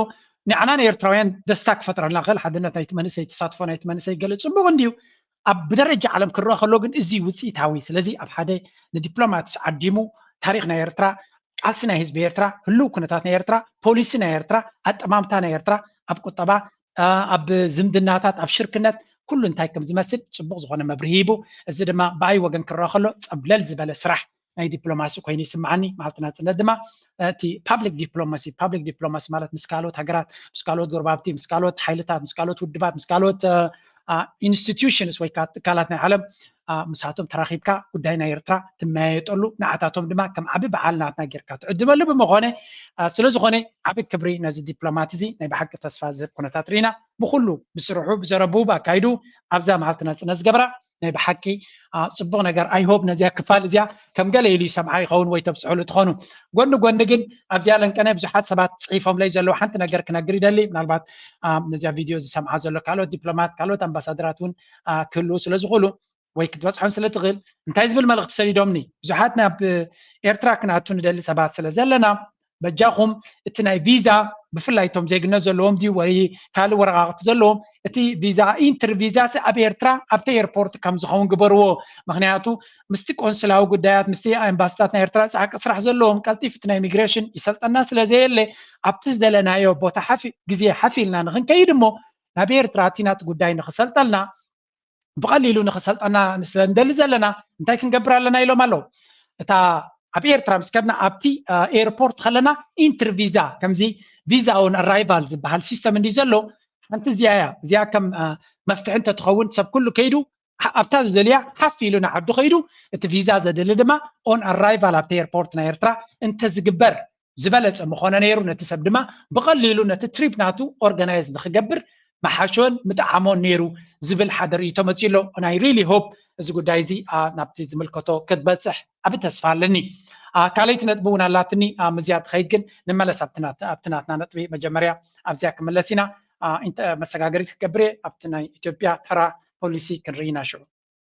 ንዓና ንኤርትራውያን ደስታ ክፈጥረልና ክእል ሓድነት ናይቲ መንእሰይ ተሳትፎ ናይቲ መንእሰይ ገለ ፅቡቅ እንድዩ ኣብ ብደረጃ ዓለም ክረኣ ከሎ ግን እዚ ውፅኢታዊ ስለዚ ኣብ ሓደ ንዲፕሎማትስ ዓዲሙ ታሪክ ናይ ኤርትራ ቃልሲ ናይ ህዝቢ ኤርትራ ህልው ኩነታት ናይ ኤርትራ ፖሊሲ ናይ ኤርትራ ኣጠማምታ ናይ ኤርትራ ኣብ ቁጠባ ኣብ ዝምድናታት ኣብ ሽርክነት ኩሉ እንታይ ከም ዝመስል ፅቡቕ ዝኾነ መብርሂ ሂቡ እዚ ድማ ብኣይ ወገን ክረኣ ከሎ ፀብለል ዝበለ ስራሕ ናይ ዲፕሎማሲ ኮይኑ ይስምዓኒ መዓልቲ ናፅነት ድማ እቲ ፓብሊክ ዲፕሎማሲ ፓብሊክ ዲፕሎማሲ ማለት ምስ ካልኦት ሃገራት ምስ ካልኦት ጎረባብቲ ምስ ካልኦት ሓይልታት ምስ ካልኦት ውድባት ምስ ካልኦት ኢንስቲትዩሽንስ ወይ ከዓ ትካላት ናይ ዓለም ምሳቶም ተራኺብካ ጉዳይ ናይ ኤርትራ ትመያየጠሉ ንዓታቶም ድማ ከም ዓቢ በዓል ናትና ጌርካ ትዕድመሉ ብምኾነ ስለ ዝኾነ ዓቢ ክብሪ ነዚ ዲፕሎማት እዚ ናይ ብሓቂ ተስፋ ዝህብ ኩነታት ርኢና ብኩሉ ብስርሑ ብዘረቡ ብኣካይዱ ኣብዛ መዓልቲ ናፅነት ዝገበራ ናይ ብሓቂ ፅቡቕ ነገር ኣይሆብ ነዚያ ክፋል እዚያ ከም ገለ ኢሉ ይሰምዓ ይኸውን ወይ ተብፅሕሉ ትኾኑ ጎኒ ጎኒ ግን ኣብዚኣ ለንቀነ ብዙሓት ሰባት ፅሒፎምለይ ዘለዉ ሓንቲ ነገር ክነግር ይደሊ ምናልባት ነዚያ ቪድዮ ዝሰምዓ ዘሎ ካልኦት ዲፕሎማት ካልኦት ኣምባሳደራት እውን ክህልዉ ስለ ዝኽእሉ ወይ ክትበፅሖም ስለ ትኽእል እንታይ ዝብል መልእኽቲ ሰዲዶምኒ ብዙሓት ናብ ኤርትራ ክንኣቱ ንደሊ ሰባት ስለ ዘለና በጃኹም እቲ ናይ ቪዛ ብፍላይ እቶም ዜግነት ዘለዎም ድዩ ወይ ካልእ ወረቃቅቲ ዘለዎም እቲ ቪዛ ኢንትር ቪዛ ኣብ ኤርትራ ኣብቲ ኤርፖርት ከም ዝኸውን ግበርዎ ምክንያቱ ምስቲ ቆንስላዊ ጉዳያት ምስቲ ኤምባስታት ናይ ኤርትራ ፃዕቂ ስራሕ ዘለዎም ቀልጢፍ እቲ ናይ ኢሚግሬሽን ይሰልጠና ስለዘየለ ኣብቲ ዝደለናዮ ቦታ ሓፊ ግዜ ሓፊ ኢልና ንክንከይድ እሞ ናብ ኤርትራ እቲ ናቲ ጉዳይ ንክሰልጠልና ብቐሊሉ ንኽሰልጠና ስለ ንደሊ ዘለና እንታይ ክንገብር ኣለና ኢሎም ኣለዉ እታ ኣብ ኤርትራ ምስ ከድና ኣብቲ ኤርፖርት ከለና ኢንትር ቪዛ ከምዚ ቪዛ ኦን ኣራይቫል ዝበሃል ሲስተም እንዲ ዘሎ ሓንቲ እዚኣ እያ እዚኣ ከም መፍትሒ እንተትኸውን ሰብ ኩሉ ከይዱ ኣብታ ዝደልያ ሓፍ ኢሉ ንዓዱ ከይዱ እቲ ቪዛ ዘድሊ ድማ ኦን ኣራይቫል ኣብቲ ኤርፖርት ናይ ኤርትራ እንተዝግበር ዝበለጸ ምኾነ ነይሩ ነቲ ሰብ ድማ ብቐሊሉ ነቲ ትሪፕ ናቱ ኦርጋናይዝ ንክገብር መሓሾን ምጠዓሞን ነይሩ ዝብል ሓደ ርእይቶ መጺኡ ኣሎ and I really hope እዚ ጉዳይ እዚ ናብቲ ዝምልከቶ ክትበጽሕ ዓቢ ተስፋ ኣለኒ ካልይቲ ነጥቢ እውን ኣላትኒ ምዝያ ትኸይድ ግን ንመለስ ኣብቲ ናትና ነጥቢ መጀመርያ ኣብዚያ ክምለስ ኢና መሰጋገሪት ክገብር እየ ኣብቲ ናይ ኢትዮጵያ ተራ ፖሊሲ ክንርኢ ኢና ሽዑ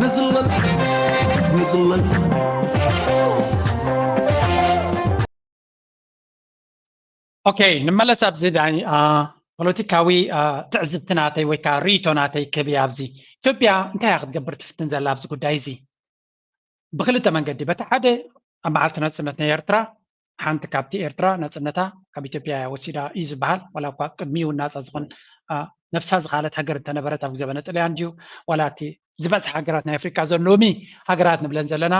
ንዝለል ንዝለል ኦኬ ንመለስ ኣብዚ ዳኒ ፖለቲካዊ ትዕዝብቲ ናተይ ወይ ከዓ ርእይቶ ናተይ ክብያ ኣብዚ ኢትዮጵያ እንታይ እያ ክትገብር ትፍትን ዘላ ኣብዚ ጉዳይ እዚ ብክልተ መንገዲ በቲ ሓደ ኣብ መዓልቲ ናጽነት ናይ ኤርትራ ሓንቲ ካብቲ ኤርትራ ናጽነታ ካብ ኢትዮጵያ እያ ወሲዳ እዩ ዝበሃል ዋላ እኳ ቅድሚ እውን ናጻ ዝኾን ነብሳ ዝኸኣለት ሃገር እንተነበረት ኣብ ዘበነ ጥልያን ድዩ ዋላ እቲ ዝበዝሐ ሃገራት ናይ ኣፍሪቃ ዘን ሎሚ ሃገራት ንብለን ዘለና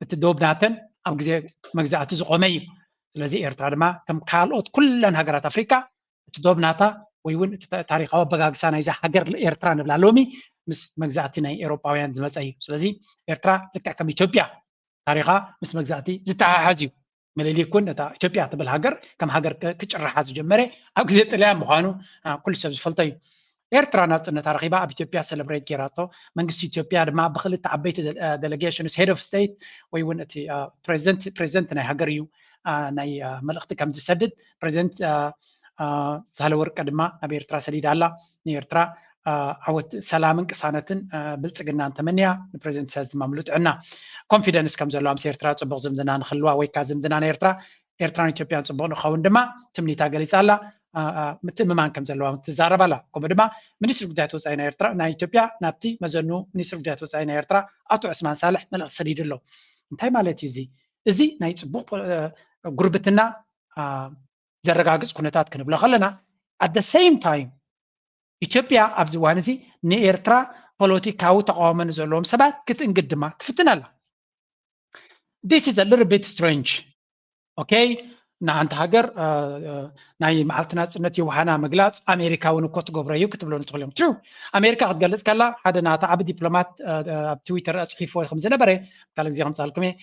እቲ ዶብ ናተን ኣብ ግዜ መግዛእቲ ዝቆመ እዩ ስለዚ ኤርትራ ድማ ከም ካልኦት ኩለን ሃገራት ኣፍሪቃ እቲ ዶብ ናታ ወይ እውን እቲ ታሪካዊ ኣበጋግሳ ናይዛ ሃገር ኤርትራ ንብላ ሎሚ ምስ መግዛእቲ ናይ ኤሮጳውያን ዝመፀ እዩ ስለዚ ኤርትራ ልክዕ ከም ኢትዮጵያ ታሪኻ ምስ መግዛእቲ ዝተሓሓዝ እዩ ምልሊክ እውን ነታ ኢትዮጵያ ትብል ሃገር ከም ሃገር ክጭርሓ ዝጀመረ ኣብ ግዜ ጥልያን ምዃኑ ኩሉ ሰብ ዝፈልጦ እዩ ኤርትራ ናጽነታ ረኺባ ኣብ ኢትዮጵያ ሰለብሬት ጌራቶ መንግስቲ ኢትዮጵያ ድማ ብክልተ ዓበይቲ ደለጌሽንስ ሄድ ኦፍ ስቴት ወይ እውን እቲ ፕሬዚደንት ፕሬዚደንት ናይ ሃገር እዩ ናይ መልእኽቲ ከም ዝሰድድ ፕሬዚደንት ሳህለ ወርቀ ድማ ናብ ኤርትራ ሰዲዳ ኣላ ንኤርትራ ዓወት ሰላምን ቅሳነትን ብልፅግናን ተመንያ ንፕሬዚደንት ኢሳያስ ድማ ምሉእ ጥዕና ኮንፊደንስ ከም ዘለዋ ምስ ኤርትራ ፅቡቅ ዝምድና ንክልዋ ወይ ከዓ ዝምድና ናይ ኤርትራ ኤርትራን ኢትዮጵያን ፅቡቕ ንክኸውን ድማ ትምኒታ ገሊፃ ኣላ። ምትእምማን ከም ዘለዋ ትዛረብ ኣላ። ከምኡ ድማ ሚኒስትሪ ጉዳያት ወፃኢ ናይ ኤርትራ ናይ ኢትዮጵያ ናብቲ መዘኑ ሚኒስትሪ ጉዳያት ወፃኢ ናይ ኤርትራ ኣቶ ዑስማን ሳልሕ መልእኽቲ ሰዲዱ ኣሎ። እንታይ ማለት እዩ እዚ? እዚ ናይ ፅቡቕ ጉርብትና ዘረጋግፅ ኩነታት ክንብሎ ከለና ኣደ ሰይም ታይም ኢትዮጵያ ኣብዚ እዋን እዚ ንኤርትራ ፖለቲካዊ ተቃውሞ ንዘለዎም ሰባት ክትእንግድ ድማ ትፍትን ኣላ። ዲስ ኢዝ ሊትል ቢት ስትሬንጅ ኦኬ ንሓንቲ ሃገር ናይ መዓልቲ ናፅነት የውሃና ምግላፅ ኣሜሪካ እውን እኮ ትገብሮ እዩ ክትብሎ ንትኽእል እዮም ትሩ ኣሜሪካ ክትገልፅ ከላ ሓደ ናታ ዓብ ዲፕሎማት ኣብ ትዊተር ኣፅሒፍዎ ከም ዝነበረ ካልእ ግዜ ከምፃልኩም እየ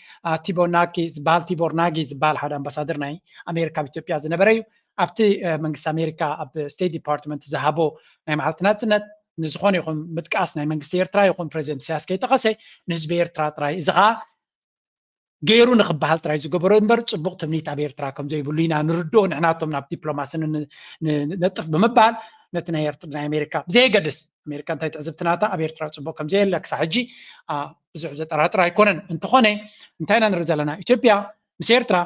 ቲቦናኪ ዝበሃል ቲቦር ናጊ ዝበሃል ሓደ ኣምባሳደር ናይ ኣሜሪካ ኣብ ኢትዮጵያ ዝነበረ እዩ ኣብቲ መንግስቲ ኣሜሪካ ኣብ ስቴት ዲፓርትመንት ዝሃቦ ናይ መዓልቲ ናጽነት ንዝኾነ ይኹን ምጥቃስ ናይ መንግስቲ ኤርትራ ይኹን ፕሬዚደንት ኢሳያስ ከይጠቐሰ ንህዝቢ ኤርትራ ጥራይ እዚ ከዓ ገይሩ ንክበሃል ጥራይ ዝገበሮ እምበር ፅቡቕ ትምኒት ኣብ ኤርትራ ከም ዘይብሉ ኢና ንርድኦ ንሕናቶም ናብ ዲፕሎማሲ ነጥፍ ብምባል ነቲ ናይ ናይ ኣሜሪካ ብዘየገድስ ኣሜሪካ እንታይ ትዕዝብቲ ናታ ኣብ ኤርትራ ፅቡቕ ከም ዘየለ ክሳብ ሕጂ ብዙሕ ዘጠራጥር ኣይኮነን እንተኾነ እንታይ ኢና ንርኢ ዘለና ኢትዮጵያ ምስ ኤርትራ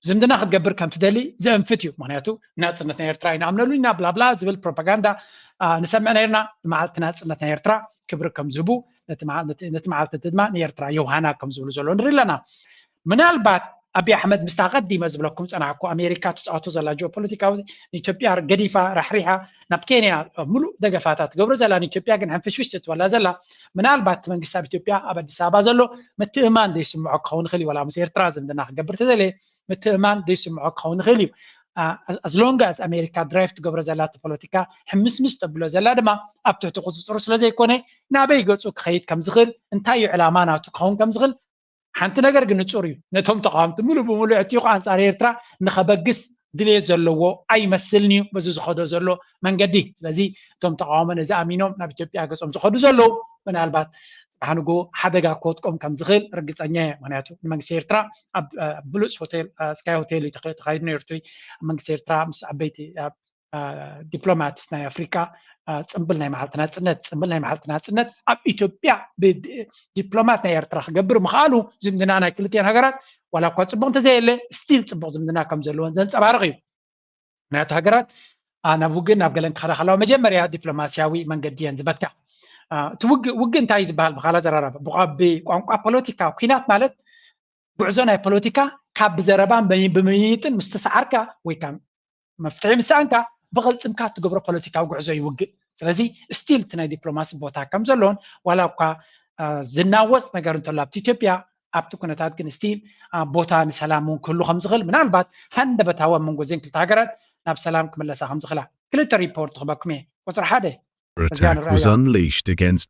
ዝምድና ክትገብር ከም ትደሊ ዘእንፍት እዩ ምክንያቱ ናፅነት ናይ ኤርትራ ይንኣምነሉ ኢና ብላብላ ዝብል ፕሮፓጋንዳ ንሰምዕ ነርና ንመዓልቲ ናፅነት ናይ ኤርትራ ክብሪ ከም ዝህቡ ነቲ መዓልቲ እቲ ድማ ንኤርትራ የውሃና ከም ዝብሉ ዘሎ ንርኢ ኣለና ምናልባት ኣቢይ ኣሕመድ ምስታ ቀዲመ ዝብለኩም ፀናሕኩ ኣሜሪካ ትፃወቶ ዘላ ጂኦፖለቲካዊ ንኢትዮጵያ ገዲፋ ራሕሪሓ ናብ ኬንያ ሙሉእ ደገፋታ ትገብሮ ዘላ ንኢትዮጵያ ግን ሕንፍሽፍሽ ትትበላ ዘላ ምናልባት እቲ መንግስቲ ኣብ ኢትዮጵያ ኣብ ኣዲስ ኣበባ ዘሎ ምትእማን ዘይስምዖ ክኸውን ይኽእል እዩ ዋላ ምስ ኤርትራ ዝምድና ክገብር ተዘለየ ምትእማን ዘይስምዖ ክኸውን ይኽእል እዩ as long as ኣሜሪካ ድራይቭ ትገብሮ ዘላ እቲ ፖለቲካ ሕምስምስ ተብሎ ዘላ ድማ ኣብ ትሕቲ ቁፅፅሩ ስለ ዘይኮነ ናበይ ገፁ ክኸይድ ከም ዝኽእል እንታይ እዩ ዕላማ ናቱ ክኸውን ከም ዝኽእል ሓንቲ ነገር ግን ንጹር እዩ ነቶም ተቃዋምቲ ሙሉእ ብሙሉእ ዕጥይቑ ኣንጻር ኤርትራ ንኸበግስ ድልየት ዘለዎ ኣይመስልን እዩ በዚ ዝኸዶ ዘሎ መንገዲ ስለዚ እቶም ተቃውሞ ነዚ ኣሚኖም ናብ ኢትዮጵያ ገጾም ዝኸዱ ዘለዉ ምናልባት ጽባሕ ንግሆ ሓደጋ ክወድቆም ከም ዝኽእል ርግጸኛ እየ ምክንያቱ ንመንግስቲ ኤርትራ ኣብ ብሉጽ ሆቴል ስካይ ሆቴል እዩ ተኻይዱ ነይሩ እቲ መንግስቲ ኤርትራ ምስ ዓበይቲ ዲፕሎማት ናይ ኣፍሪካ ፅምብል ናይ መዓልቲ ናፅነት ፅምብል ናይ መዓልቲ ናፅነት ኣብ ኢትዮጵያ ብዲፕሎማት ናይ ኤርትራ ክገብር ምኽኣሉ ዝምድና ናይ ክልቲኤን ሃገራት ዋላ እኳ ፅቡቅ እንተዘየለ ስቲል ፅቡቅ ዝምድና ከም ዘለዎን ዘንፀባርቕ እዩ ምክንያቱ ሃገራት ናብ ውግእ ናብ ገለን ክኸዳ ከለዋ መጀመርያ ዲፕሎማስያዊ መንገዲ እየን ዝበትካ እቲ ውግእ ውግእ እንታይ እዩ ዝበሃል ብካላ ዘራረበ ብቋንቋ ፖለቲካ ኩናት ማለት ጉዕዞ ናይ ፖለቲካ ካብ ብዘረባን ብምይይጥን ምስ ተሰዓርካ ወይ መፍትሒ ምስ ሰኣንካ ብቕልፅምካ እትገብሮ ፖለቲካዊ ጉዕዞ ይውግእ ስለዚ ስቲል እቲ ናይ ዲፕሎማሲ ቦታ ከም ዘሎን ዋላ እኳ ዝናወፅ ነገር እንተሎ ኣብቲ ኢትዮጵያ ኣብቲ ኩነታት ግን ስቲል ቦታ ንሰላም እውን ክህሉ ከም ዝኽእል ምናልባት ሃንደበታዊ ኣብ መንጎ እዘን ክልተ ሃገራት ናብ ሰላም ክምለሳ ከም ዝኽእላ ክልተ ሪፖርት ክበኩም እየ ቁፅሪ ሓደ Attack was unleashed against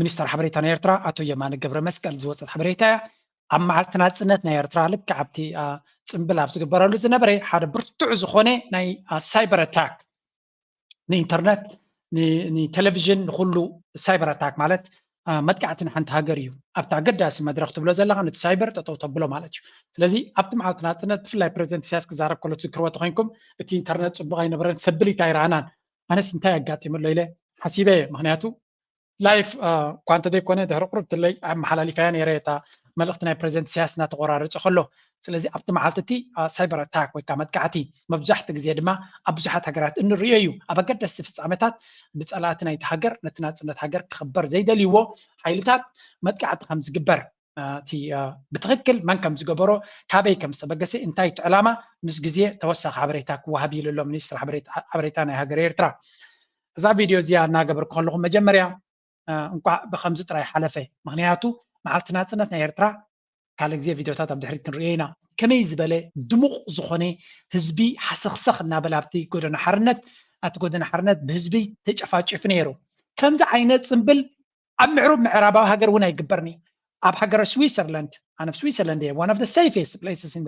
ሚኒስተር ሓበሬታ ናይ ኤርትራ ኣቶ የማነ ገብረመስቀል ዝወፀት ሓበሬታ እያ። ኣብ መዓልቲ ናፅነት ናይ ኤርትራ ልክዕ ኣብቲ ፅምብል ኣብ ዝግበረሉ ዝነበረ ሓደ ብርቱዕ ዝኾነ ናይ ሳይበር ኣታክ ንኢንተርነት ንቴሌቪዥን ንኩሉ ሳይበር ኣታክ ማለት መጥቃዕቲ ንሓንቲ ሃገር እዩ ኣብቲ ኣገዳሲ መድረክ ትብሎ ዘለካ ነቲ ሳይበር ጠጠው ተብሎ ማለት እዩ ስለዚ ኣብቲ መዓልቲ ናፅነት ብፍላይ ፕረዚደንት ኢሳያስ ክዛረብ ከሎ ትዝክርዎ ተኮይንኩም እቲ ኢንተርነት ፅቡቅ ኣይነበረን ሰብሊት ኣይረኣናን ኣነስ እንታይ ኣጋጢሙ ኣሎ ኢለ ሓሲበ እየ ምክንያቱ ላይፍ እኳ እንተዘይኮነ ድሕሪ ቁሩብ ትለይ ኣመሓላሊፈያ ነይረ እታ መልእኽቲ ናይ ፕሬዚደንት ኢሳያስ እናተቆራረፀ ከሎ ስለዚ ኣብቲ መዓልቲ እቲ ሳይበር ኣታክ ወይ ከዓ መጥቃዕቲ መብዛሕትኡ ግዜ ድማ ኣብ ብዙሓት ሃገራት እንሪኦ እዩ ኣብ ኣገደስቲ ፍፃመታት ብፀላእቲ ናይቲ ሃገር ነቲ ናፅነት ሃገር ክኽበር ዘይደልይዎ ሓይልታት መጥቃዕቲ ከም ዝግበር እቲ ብትኽክል መን ከም ዝገበሮ ካበይ ከም ዝተበገሰ እንታይ እቲ ዕላማ ምስ ግዜ ተወሳኺ ሓበሬታ ክወሃብ ኢሉ ኣሎ ሚኒስትሪ ሓበሬታ ናይ ሃገር ኤርትራ እዛ ቪድዮ እዚኣ እናገበርኩ ከለኹ መጀመርያ እንኳዕ ብከምዚ ጥራይ ሓለፈ ምክንያቱ መዓልቲ ናፅነት ናይ ኤርትራ ካልእ ግዜ ቪድዮታት ኣብ ድሕሪት ክንሪኦ ኢና ከመይ ዝበለ ድሙቕ ዝኾነ ህዝቢ ሓሰኽሰኽ እናበለ ኣብቲ ጎደና ሓርነት ኣብቲ ጎደና ሓርነት ብህዝቢ ተጨፋጭፉ ነይሩ ከምዚ ዓይነት ፅምብል ኣብ ምዕሩብ ምዕራባዊ ሃገር እውን ኣይግበርን እዩ ኣብ ሃገረ ስዊሰርላንድ ኣነ ኣብ ስዊሰርላንድ እየ ዋን ኦፍ ዘ ሰይፌስት ፕሌስስ ኢን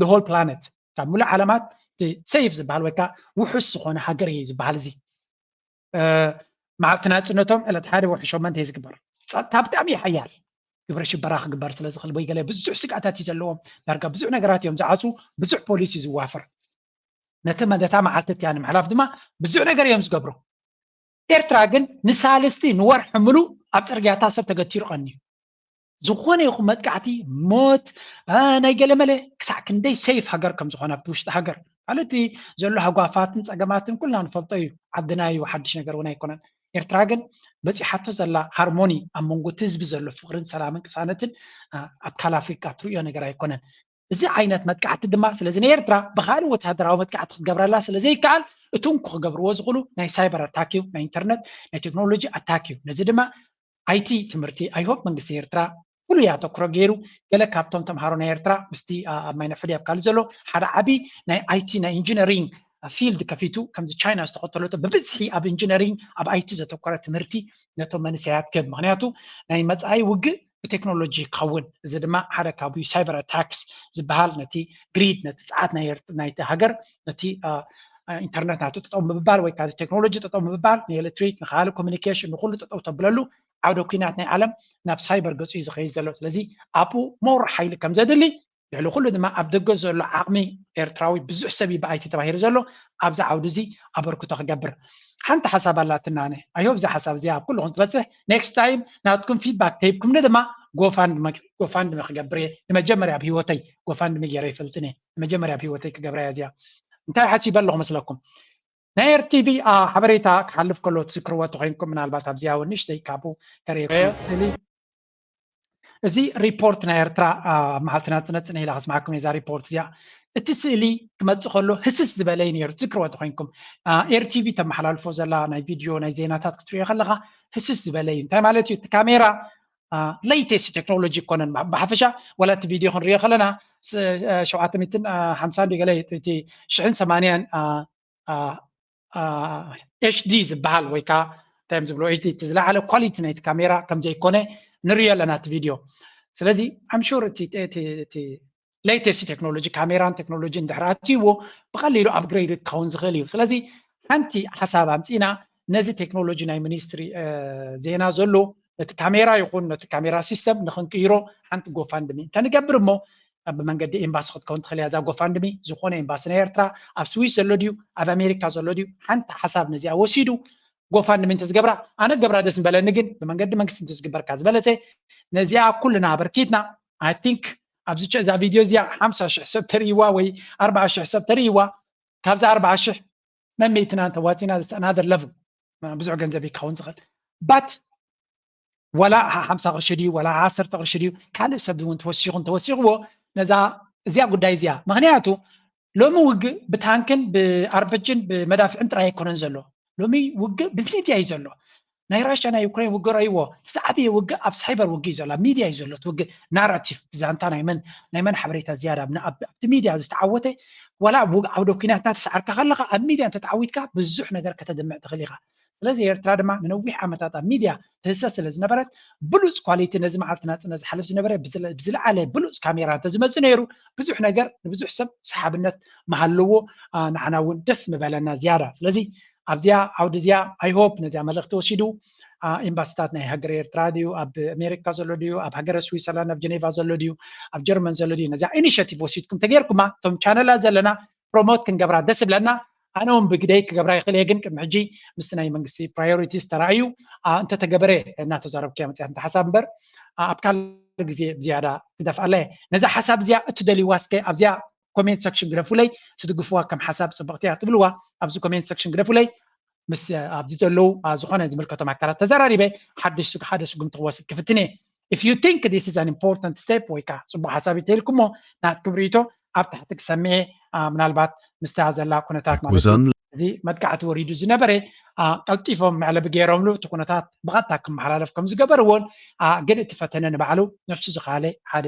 ዘ ሆል ፕላነት ካብ ሙሉእ ዓለማት እቲ ሰይፍ ዝበሃል ወይ ከዓ ውሑስ ዝኾነ ሃገር እዩ ዝበሃል እዚ መዓልቲ ናፅነቶም ዕለት ሓደ ወርሒ ሸመንተ እዩ ዝግበር ፀጥታ ብጣዕሚ እዩ ሓያል ግብረ ሽበራ ክግበር ስለ ዝኽእል ወይ ገለ ብዙሕ ስግኣታት እዩ ዘለዎም ዳርጋ ብዙሕ ነገራት እዮም ዝዓፁ ብዙሕ ፖሊስ እዩ ዝዋፍር ነቲ መደታ መዓልቲ እቲያ ንምሕላፍ ድማ ብዙሕ ነገር እዮም ዝገብሩ ኤርትራ ግን ንሳልስቲ ንወርሒ ምሉእ ኣብ ጽርግያታ ሰብ ተገቲሩ ቀንዩ ዝኾነ ይኹን መጥቃዕቲ ሞት ናይ ገለመለ ክሳዕ ክንደይ ሰይፍ ሃገር ከም ዝኾነ ኣብቲ ውሽጢ ሃገር ማለት ዘሎ ሃጓፋትን ፀገማትን ኩልና ንፈልጦ እዩ ዓድና እዩ ሓድሽ ነገር እውን ኣይኮነን ኤርትራ ግን በፂሓቶ ዘላ ሃርሞኒ ኣብ መንጎ እቲ ህዝቢ ዘሎ ፍቅርን ሰላምን ቅሳነትን ኣብ ካል ኣፍሪካ ትርእዮ ነገር ኣይኮነን እዚ ዓይነት መጥቃዕቲ ድማ ስለዚ ንኤርትራ ብካልእ ወተሃደራዊ መጥቃዕቲ ክትገብረላ ስለዘይከኣል እቲ እንኩ ክገብርዎ ዝኽእሉ ናይ ሳይበር ኣታክ እዩ ናይ ኢንተርነት ናይ ቴክኖሎጂ ኣታክ እዩ ነዚ ድማ ኣይቲ ትምህርቲ ኣይሆፕ መንግስቲ ኤርትራ ፍሉይ ኣተኩሮ ገይሩ ገለ ካብቶም ተምሃሮ ናይ ኤርትራ ምስቲ ኣብ ማይነፍሕዲ ኣብ ካልእ ዘሎ ሓደ ዓብዪ ናይ ኣይቲ ናይ ኢንጂነሪንግ ፊልድ ከፊቱ ከምዚ ቻይና ዝተኸተለቶ ብብዝሒ ኣብ ኢንጂነሪንግ ኣብ ኣይቲ ዘተኮረ ትምህርቲ ነቶም መንእሰያት ክህብ ምክንያቱ ናይ መፃኢ ውግእ ብቴክኖሎጂ ክኸውን እዚ ድማ ሓደ ካብ ሳይበር ኣታክስ ዝበሃል ነቲ ግሪድ ነቲ ፀዓት ናይቲ ሃገር ነቲ ኢንተርነት ናቱ ጠጠው ምብባል ወይ ካብ ቴክኖሎጂ ጠጠው ምብባል ንኤሌክትሪክ ንካል ኮሚኒኬሽን ንኩሉ ጠጠው ተብለሉ ዓውደ ኩናት ናይ ዓለም ናብ ሳይበር ገፁ እዩ ዝኸይድ ዘሎ ስለዚ ኣብኡ ሞር ሓይሊ ከም ዘድሊ ልዕሊ ኩሉ ድማ ኣብ ደገ ዘሎ ዓቕሚ ኤርትራዊ ብዙሕ ሰብ እዩ ብኣይቲ ተባሂሉ ዘሎ ኣብዚ ዓውዲ እዚ ኣበርክቶ ክገብር ሓንቲ ሓሳብ ኣላትና ኣነ ኣይሆብ እዛ ሓሳብ እዚኣ ኣብ ኩልኹም ትበፅሕ ኔክስት ታይም ናትኩም ፊድባክ ተሂብኩምኒ ድማ ጎፋንድሚ ክገብር እየ ንመጀመርያ ኣብ ሂወተይ ጎፋንድሚ ገይረ ይፈልጥን እየ ንመጀመርያ ኣብ ሂወተይ ክገብራ እያ እዚኣ እንታይ ሓሲበ ኣለኹ መስለኩም ናይ ኤርቲቪ ሓበሬታ ክሓልፍ ከሎ ትዝክርዎ ተኮይንኩም ምናልባት ኣብዚኣ እውን ንእሽተይ ካብኡ ከርእየኩም ስእሊ እዚ ሪፖርት ናይ ኤርትራ ኣብ መዓልቲ ናጽነት ጽነ ኢላ ከስማዓኩም እዛ ሪፖርት እዚኣ እቲ ስእሊ ክመጽእ ከሎ ህስስ ዝበለ እዩ ነይሩ ትዝክርዎ ተኮይንኩም ኤር ቲቪ ተመሓላልፎ ዘላ ናይ ቪድዮ ናይ ዜናታት ክትሪኦ ከለካ ህስስ ዝበለ እዩ እንታይ ማለት እዩ እቲ ካሜራ ለይቴስት ቴክኖሎጂ ይኮነን ብሓፈሻ ዋላ እቲ ቪድዮ ክንሪኦ ከለና ሸውዓተ ሚትን ሓምሳን ገለ እቲ ሽሕን ሰማንያን ኤችዲ ዝበሃል ወይ ከዓ እንታይ ዝብሎ ኤችዲ እቲ ዝለዓለ ኳሊቲ ናይቲ ካሜራ ከም ዘይኮነ ንሪኦ ኣለና እቲ ቪድዮ ስለዚ ኣምሹር እቲ ሌተስት ቴክኖሎጂ ካሜራን ቴክኖሎጂን ድሕሪ ኣትይዎ ብቐሊሉ ኣፕግሬድ ክኸውን ዝኽእል እዩ ስለዚ ሓንቲ ሓሳብ ኣምፂና ነዚ ቴክኖሎጂ ናይ ሚኒስትሪ ዜና ዘሎ ነቲ ካሜራ ይኹን ነቲ ካሜራ ሲስተም ንክንቅይሮ ሓንቲ ጎፋንድሚ እንተንገብር እሞ ኣብ መንገዲ ኤምባሲ ክትከውን ትኽእል እያ እዛ ጎፋንድሚ ዝኾነ ኤምባሲ ናይ ኤርትራ ኣብ ስዊስ ዘሎ ድዩ ኣብ ኣሜሪካ ዘሎ ድዩ ሓንቲ ሓሳብ ነዚኣ ወሲዱ ጎፋንድሚ እንተዝገብራ ኣነ ገብራ ደስ ምበለኒ ግን ብመንገዲ መንግስቲ እንተዝግበርካ ዝበለፀ ነዚኣ ኩልና ኣበርኪትና ኣይ ቲንክ ኣብዚ እዛ ቪድዮ እዚኣ ሓምሳ ሽሕ ሰብ ተርእይዋ ወይ ኣርባዓ ሽሕ ሰብ ተርእይዋ ካብዚ ኣርባዓ ሽሕ መመይትና እንተዋፂና ኣናደር ለቭል ብዙሕ ገንዘብ ይካውን ዝኽእል ባት ዋላ ሓምሳ ቅርሺ ድዩ ዋላ ዓሰርተ ቅርሺ ድዩ ካልእ ሰብ እውን ተወሲኹም ተወሲኽዎ ነዛ እዚያ ጉዳይ እዚኣ ምክንያቱ ሎሚ ውግእ ብታንክን ብኣርበጅን ብመዳፍዕን ጥራይ ኣይኮነን ዘሎ ሎሚ ውግእ ብሚድያ እዩ ዘሎ ናይ ራሻ ናይ ዩክሬን ውግእ ረእይዎ ዝዓበየ ውግእ ኣብ ሳይበር ውግእ እዩ ዘሎ ኣብ ሚድያ እዩ ዘሎ እቲ ውግእ ናራቲቭ ዛንታ ናይ መን ናይ መን ሓበሬታ ዝያዳ ኣብቲ ሚድያ ዝተዓወተ ዋላ ኣብ ዓውደ ኩናት እናተሰዓርካ ከለካ ኣብ ሚድያ እንተተዓዊትካ ብዙሕ ነገር ከተድምዕ ትኽእል ኢኻ ስለዚ ኤርትራ ድማ ንነዊሕ ዓመታት ኣብ ሚድያ ትህሰስ ስለ ዝነበረት ብሉጽ ኳሊቲ ነዚ መዓልቲ ናጽነት ዝሓልፍ ዝነበረ ብዝለዓለ ብሉጽ ካሜራ እንተዝመጽእ ነይሩ ብዙሕ ነገር ንብዙሕ ሰብ ሰሓብነት ምሃለዎ ንዓና እውን ደስ ምበለና ዝያዳ ስለዚ ኣብዚኣ ዓውዲ እዚኣ ኣይሆፕ ነዚኣ መልእኽቲ ወሲዱ ኤምባሲታት ናይ ሃገር ኤርትራ ድዩ ኣብ ኣሜሪካ ዘሎ ድዩ ኣብ ሃገረ ስዊዘርላንድ ኣብ ጀኔቫ ዘሎ ድዩ ኣብ ጀርመን ዘሎ ድዩ ነዚኣ ኢኒሽቲቭ ወሲድኩም ተገይርኩማ እቶም ቻነላ ዘለና ፕሮሞት ክንገብራ ደስ ይብለና ኣነ እውን ብግደይ ክገብራ ይኽእል እየ ግን ቅድሚ ሕጂ ምስ ናይ መንግስቲ ፕራዮሪቲስ ተራእዩ እንተተገበረ እናተዛረብኩ እያ መፅያት ሓሳብ እምበር ኣብ ካልእ ግዜ ብዝያዳ ክደፍኣላ እየ ነዛ ሓሳብ እዚኣ እትደልይዋ እስከ ኣብዚኣ ኮሜንት ሰክሽን ግደፉለይ ትድግፍዋ ከም ሓሳብ ፅብቕቲ እያ ትብልዋ ኣብዚ ኮሜንት ሰክሽን ግደፉለይ ምስ ኣብዚ ዘለው ዝኾነ ዝምልከቶም ኣካላት ተዘራሪበ ሓድሽ ሓደ ስጉምቲ ክወስድ ክፍትን እየ if you think this is an important step ወይ ከዓ ፅቡቅ ሓሳብ እዩ ተልኩሞ ናትኩም ርእቶ ኣብ ታሕቲ ክሰምየ ምናልባት ምስታ ዘላ ኩነታት ማለት እዚ መጥቃዕቲ ወሪዱ ዝነበረ ቀልጢፎም መዕለቢ ገይሮምሉ እቲ ኩነታት ብቐጥታ ክመሓላለፍ ከም ዝገበርዎን ግን እቲ ፈተነ ንባዕሉ ነፍሱ ዝኸኣለ ሓደ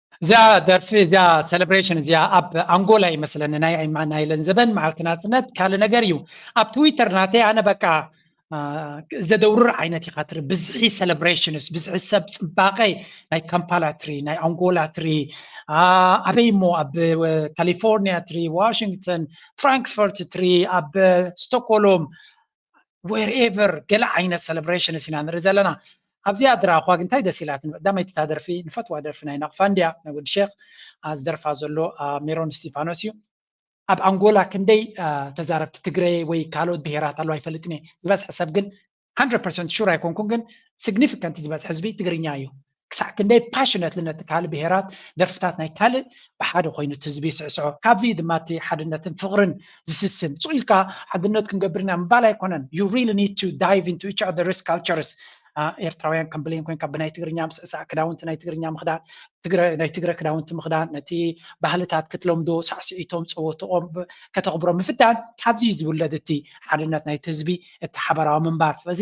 እዚኣ ደርፊ እዚኣ ሴሌብሬሽን እዚኣ ኣብ ኣንጎላ ይመስለኒ ናይ ናይ ለንዘበን መዓልቲ ናፅነት ካልእ ነገር እዩ ኣብ ትዊተር ናተይ ኣነ በቃ ዘደውርር ዓይነት ኢኻ ትርኢ ብዝሒ ሴሌብሬሽንስ ብዝሒ ሰብ ፅባቐ ናይ ካምፓላ ትሪ ናይ ኣንጎላ ትሪ ኣበይ እሞ ኣብ ካሊፎርኒያ ትሪ ዋሽንግተን ፍራንክፈርት ትሪ ኣብ ስቶኮሎም ዌርኤቨር ገለ ዓይነት ሰለብሬሽንስ ኢና ንርኢ ዘለና ኣብዚኣ ድራ እኳ ግን እንታይ ደስ ኢላትኒ ቀዳመይቲ እታ ደርፊ ንፈትዋ ደርፊ ናይ ናቕፋ እንድያ ናይ ወዲ ሼክ ዝደርፋ ዘሎ ሜሮን እስጢፋኖስ እዩ ኣብ ኣንጎላ ክንደይ ተዛረብቲ ትግረ ወይ ካልኦት ብሄራት ኣለዋ ይፈልጥኒ ዝበዝሐ ሰብ ግን 100 ሹር ኣይኮንኩን ግን ሲግኒፊካንት ዝበዝሐ ህዝቢ ትግርኛ እዩ ክሳዕ ክንደይ ፓሽነትሊ ነቲ ካልእ ብሄራት ደርፍታት ናይ ካልእ ብሓደ ኮይኑ እቲ ህዝቢ ይስዕስዖ ካብዚ እዩ ድማ እቲ ሓድነትን ፍቕርን ዝስስን ጹእ ኢልካ ሓድነት ክንገብር ኢና ምባል ኣይኮነን you really need to dive into each other's cultures ኤርትራውያን ከም ብሌን ኮንካ ብናይ ትግርኛ ምስዕሳዕ ክዳውንቲ ናይ ትግርኛ ምኽዳን ናይ ትግረ ክዳውንቲ ምኽዳን ነቲ ባህልታት ክትለምዶ ሳዕስዒቶም ፀወትኦም ከተኽብሮ ምፍታን ካብዚ ዝውለድ እቲ ሓድነት ናይቲ ህዝቢ እቲ ሓበራዊ ምንባር ስለዚ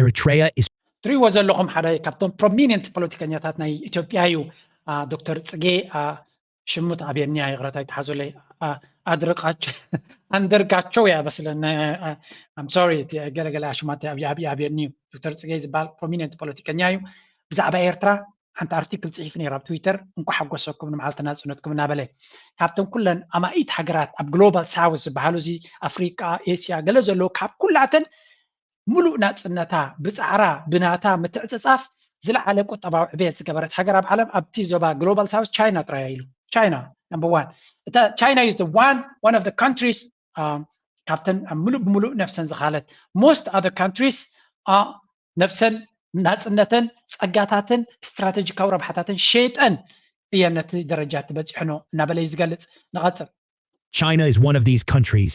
Eritrea is ትሪእዎ ዘለኹም ሓደ ካብቶም ፕሮሚኒንት ፖለቲከኛታት ናይ ኢትዮጵያ እዩ ዶክተር ፅጌ ሽሙ ተኣብየኒያ ይቕረታ ይተሓዙለይ ኣድርቃቸው ኣንደርጋቸው እያ በስለና ኣም ሶሪ ገለገለ ኣሽማት ኣብየኒ እዩ ዶክተር ፅጌ ዝበሃል ፕሮሚኒንት ፖለቲከኛ እዩ ብዛዕባ ኤርትራ ሓንቲ ኣርቲክል ፅሒፍ ነይሩ ኣብ ትዊተር እንኳ ሓጎሰኩም ንመዓልቲ ናፅነትኩም እናበለ ካብተን ኩለን ኣማኢት ሃገራት ኣብ ግሎባል ሳውስ ዝበሃሉ እዚ ኣፍሪቃ ኤስያ ገለ ዘለዎ ካብ ኩላተን ምሉእ ናጽነታ ብጻዕራ ብናታ ምትዕጽጻፍ ዝለዓለ ቁጠባዊ ዕብየት ዝገበረት ሃገር ኣብ ዓለም ኣብቲ ዞባ ግሎባል ሳውዝ ቻይና ጥራይ እያ ኢሉ። ቻይና ነምበር ዋን እታ ቻይና ኢዝ ዋን ዋን ኦፍ ካንትሪስ ካብተን ኣብ ምሉእ ብምሉእ ነብሰን ዝኻለት ሞስት ኣዘር ካንትሪስ ነብሰን ናፅነተን ፀጋታተን ስትራቴጂካዊ ረብሓታተን ሸይጠን እየን ነቲ ደረጃ እቲ በፂሕኖ እናበለ እዩ ዝገልፅ ንቐፅል China is one of these countries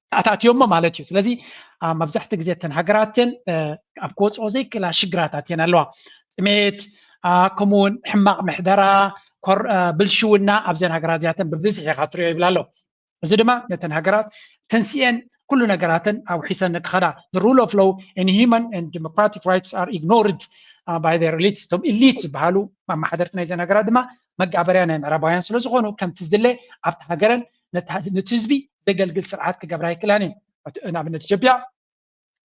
ኣታእትዮሞ ማለት እዩ ስለዚ መብዛሕትኡ ግዜ እተን ሃገራት እተን ኣብ ክወፅኦ ዘይክእላ ሽግራት ኣትየን ኣለዋ ጥሜት ከምኡ እውን ሕማቕ ምሕደራ ብልሽውና ኣብዘን ሃገራት እዚኣተን ብብዝሒ ኢኻ ትሪኦ ይብል ኣሎ እዚ ድማ ነተን ሃገራት ተንስኤን ኩሉ ነገራተን ኣውሒሰን ክኸዳ ሩል ኦፍ ሎው ን ሂማን ን ዲሞክራቲክ ራይትስ ኣር ኢግኖርድ ባይ ር ኤሊትስ እቶም ኢሊት ዝበሃሉ ኣመሓደርቲ ናይዘን ሃገራት ድማ መጋበርያ ናይ ምዕራባውያን ስለ ዝኾኑ ከምቲ ዝድለ ኣብቲ ሃገረን ነቲ ህዝቢ ዘገልግል ስርዓት ክገብራ ኣይክእላን እየን ንኣብነት ኢትዮጵያ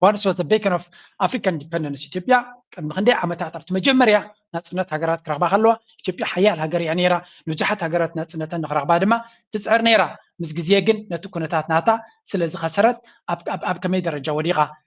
ዋንስ ዋስ ቤከን ኦፍ ኣፍሪካን ኢንዲፐንደንስ ኢትዮጵያ ቅድሚ ክንደይ ዓመታት ኣብቲ መጀመርያ ናፅነት ሃገራት ክረኽባ ከለዋ ኢትዮጵያ ሓያል ሃገር እያ ነይራ ንብዙሓት ሃገራት ናፅነተን ንክረኽባ ድማ ትፅዕር ነይራ ምስ ግዜ ግን ነቲ ኩነታት ናታ ስለ ዝኸሰረት ኣብ ከመይ ደረጃ ወዲቓ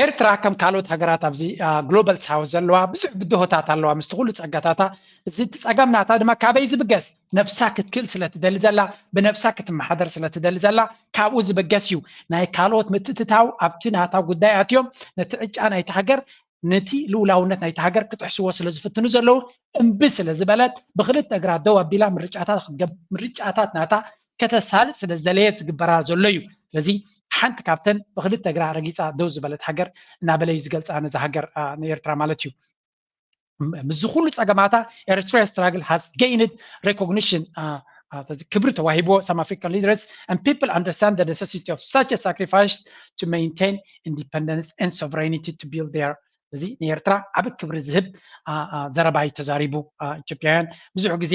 ኤርትራ ከም ካልኦት ሃገራት ኣብዚ ግሎባል ሳውዝ ዘለዋ ብዙሕ ብድሆታት ኣለዋ ምስቲ ኩሉ ጸጋታታ እዚ እቲ ጸገም ናታ ድማ ካበይ ዝብገስ ነብሳ ክትክእል ስለ ትደሊ ዘላ ብነብሳ ክትመሓደር ስለ ትደሊ ዘላ ካብኡ ዝብገስ እዩ ናይ ካልኦት ምትእትታው ኣብቲ ናታ ጉዳይ ኣትዮም ነቲ ዕጫ ናይቲ ሃገር ነቲ ልኡላውነት ናይቲ ሃገር ክጥሕስዎ ስለ ዝፍትኑ ዘለዉ እምቢ ስለ ዝበለት ብክልተ እግራ ደው ኣቢላ ምርጫታት ምርጫታት ናታ ከተሳልጥ ስለ ዝደለየት ዝግበራ ዘሎ እዩ። ስለዚ ሓንቲ ካብተን ብክልተ እግራ ረጊጻ ደው ዝበለት ሃገር እናበለ እዩ ዝገልጻ ነዛ ሃገር ንኤርትራ ማለት እዩ። ምስዚ ኩሉ ጸገማታ ኤርትራ ስትራግል ሃዝ ገይንድ ሬኮግኒሽን ስለዚ ክብሪ ተዋሂብዎ ሳም ኣፍሪካን ሊደርስ ን ፒፕል ኣንደርስታንድ ደ ነሰሲቲ ኦፍ ሳች ሳክሪፋይስ ቱ ሜንቴን ኢንዲፐንደንስ ን ሶቨሬኒቲ ቱ ቢልድ ር እዚ ንኤርትራ ዓብ ክብሪ ዝህብ ዘረባ እዩ ተዛሪቡ ኢትዮጵያውያን ብዙሕ ግዜ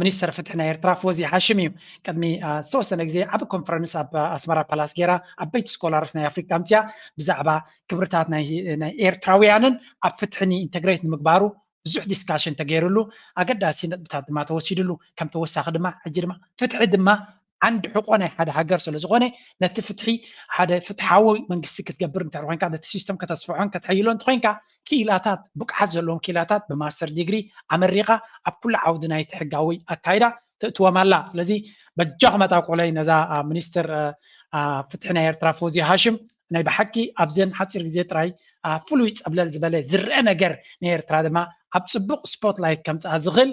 ሚኒስተር ፍትሒ ናይ ኤርትራ ፎዚ ሃሽም እዩ። ቅድሚ ዝተወሰነ ግዜ ዓቢ ኮንፈረንስ ኣብ ኣስመራ ፓላስ ገይራ ዓበይቲ ስኮላርስ ናይ ኣፍሪካ ኣምጺኣ ብዛዕባ ክብርታት ናይ ኤርትራውያንን ኣብ ፍትሕን ኢንተግሬት ንምግባሩ ብዙሕ ዲስካሽን ተገይርሉ ኣገዳሲ ነጥብታት ድማ ተወሲድሉ ከም ተወሳኺ ድማ ሕጂ ድማ ፍትሒ ድማ ዓንዲ ሕቆ ናይ ሓደ ሃገር ስለ ዝኾነ ነቲ ፍትሒ ሓደ ፍትሓዊ መንግስቲ ክትገብር እንተ ኮይንካ ነቲ ሲስተም ከተስፍሖን ከተሐይሎ እንተ ኮይንካ ክኢላታት ብቅዓት ዘለዎም ክኢላታት ብማስተር ዲግሪ ኣመሪኻ ኣብ ኩሉ ዓውዲ ናይቲ ሕጋዊ ኣካይዳ ተእትዎም ኣላ ስለዚ በጃኹም ኣጣብቁለይ ነዛ ሚኒስትር ፍትሒ ናይ ኤርትራ ፎዚያ ሃሽም ናይ ብሓቂ ኣብዘን ሓፂር ግዜ ጥራይ ፍሉይ ፀብለል ዝበለ ዝረአ ነገር ናይ ኤርትራ ድማ ኣብ ፅቡቕ ስፖትላይት ከምፅኣ ዝኽእል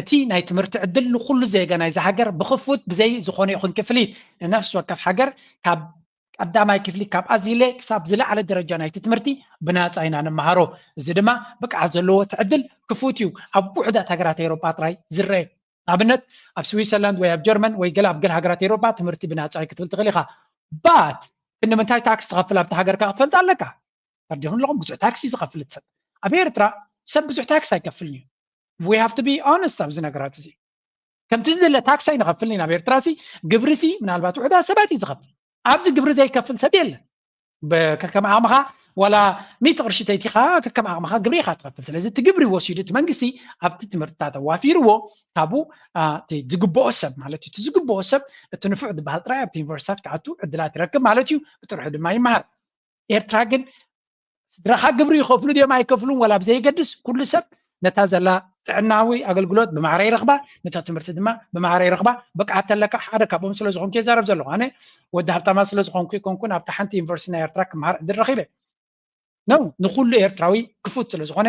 እቲ ናይ ትምህርቲ ዕድል ንኹሉ ዜጋ ናይዛ ሃገር ብኽፉት ብዘይ ዝኾነ ይኹን ክፍሊት ንነፍሲ ወከፍ ሃገር ካብ ቀዳማይ ክፍሊ ካብ ኣዚለ ክሳብ ዝለዓለ ደረጃ ናይቲ ትምህርቲ ብናጻ ኢና ንመሃሮ እዚ ድማ ብቅዓት ዘለዎ እቲ ዕድል ክፉት እዩ ኣብ ውሑዳት ሃገራት ኤውሮጳ ጥራይ ዝረአ ኣብነት ኣብ ስዊትዘርላንድ ወይ ኣብ ጀርመን ወይ ገለ ኣብ ገለ ሃገራት ኤውሮጳ ትምህርቲ ብናጻ እዩ ክትብል ትኽእል ኢኻ ባት ግን ንምንታይ ታክስ ትኸፍል ኣብቲ ሃገር ከ ክትፈልጥ ኣለካ ተርዲኹም ኣለኹም ብዙሕ ታክሲ ዝኸፍል ሰብ ኣብ ኤርትራ ሰብ ብዙሕ ታክስ ኣይከፍልን እዩ ዊ ሃቭ ቱ ቢ ኦነስት ኣብዚ ነገራት እዚ ከምቲ ዝደለ ታክሲ ኣይንኸፍልን ኢና ኣብ ኤርትራ ሲ ግብሪ ሲ ምናልባት ውሕዳት ሰባት እዩ ዝኸፍል ኣብዚ ግብሪ ዘይከፍል ሰብ የለን ከከም ዓቕምኻ ዋላ ሚእቲ ቅርሺ ተይቲኻ ከከም ዓቕምኻ ግብሪ ኢኻ ትኸፍል ስለዚ እቲ ግብሪ ወሲዱ እቲ መንግስቲ ኣብቲ ትምህርትታት ኣዋፊርዎ ካብኡ እቲ ዝግብኦ ሰብ ማለት እዩ እቲ ዝግብኦ ሰብ እቲ ንፉዕ ዝበሃል ጥራይ ኣብቲ ዩኒቨርሲታት ክኣቱ ዕድላት ይረክብ ማለት እዩ ብጥርሑ ድማ ይመሃር ኤርትራ ግን ስድራኻ ግብሪ ይኸፍሉ ድዮም ኣይከፍሉን ወላ ብዘይገድስ ኩሉ ሰብ ነታ ዘላ ጥዕናዊ ኣገልግሎት ብማዕረ ይረኽባ ነታ ትምህርቲ ድማ ብማዕረ ይረኽባ ብቅዓት ተለካ ሓደ ካብኦም ስለ ዝኾንኩ የዛረብ ዘለኹ ኣነ ወዲ ሃብታማ ስለ ዝኾንኩ ይኮንኩን ኣብቲ ሓንቲ ዩኒቨርሲቲ ናይ ኤርትራ ክምሃር ዕድል ረኺበ ነው ንኩሉ ኤርትራዊ ክፉት ስለ ዝኾነ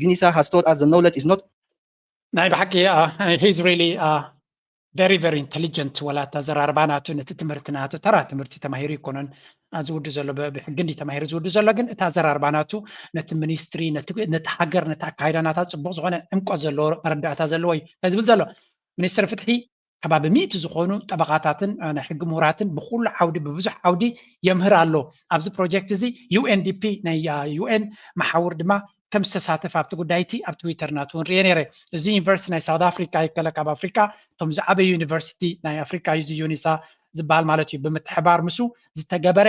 Yunisa has taught us the knowledge is not. ናይ ብሓቂ ሂዝ ሪሊ ቨሪ ቨሪ ኢንተሊጀንት ወላ እቲ ኣዘራርባ ናቱ ነቲ ትምህርቲ ናቱ ተራ ትምህርቲ ተማሂሩ ኣይኮነን ዝውዱ ዘሎ ብሕጊ እንዲ ተማሂሩ ዝውዱ ዘሎ ግን እቲ ኣዘራርባ ናቱ ነቲ ሚኒስትሪ ነቲ ሃገር ነቲ ኣካይዳ ናታ ፅቡቅ ዝኮነ ዕምቆት ዘለዎ መረዳእታ ዘለዎ እዩ ዝብል ዘሎ ሚኒስትር ፍትሒ ከባቢ ሚእቲ ዝኾኑ ጠበቓታትን ናይ ሕጊ ምሁራትን ብኩሉ ዓውዲ ብብዙሕ ዓውዲ የምህር ኣሎ። ኣብዚ ፕሮጀክት እዚ UNDP ናይ UN መሓውር ድማ ከም ዝተሳተፈ ኣብቲ ጉዳይ እቲ ኣብ ትዊተር ናቱ እውን ርኤ ነይረ እዚ ዩኒቨርሲቲ ናይ ሳውት ኣፍሪካ ይከለ ካብ ኣፍሪካ እቶም ዝዓበዩ ዩኒቨርሲቲ ናይ ኣፍሪካ እዩ እዚ ዩኒሳ ዝበሃል ማለት እዩ ብምትሕባር ምስ ዝተገበረ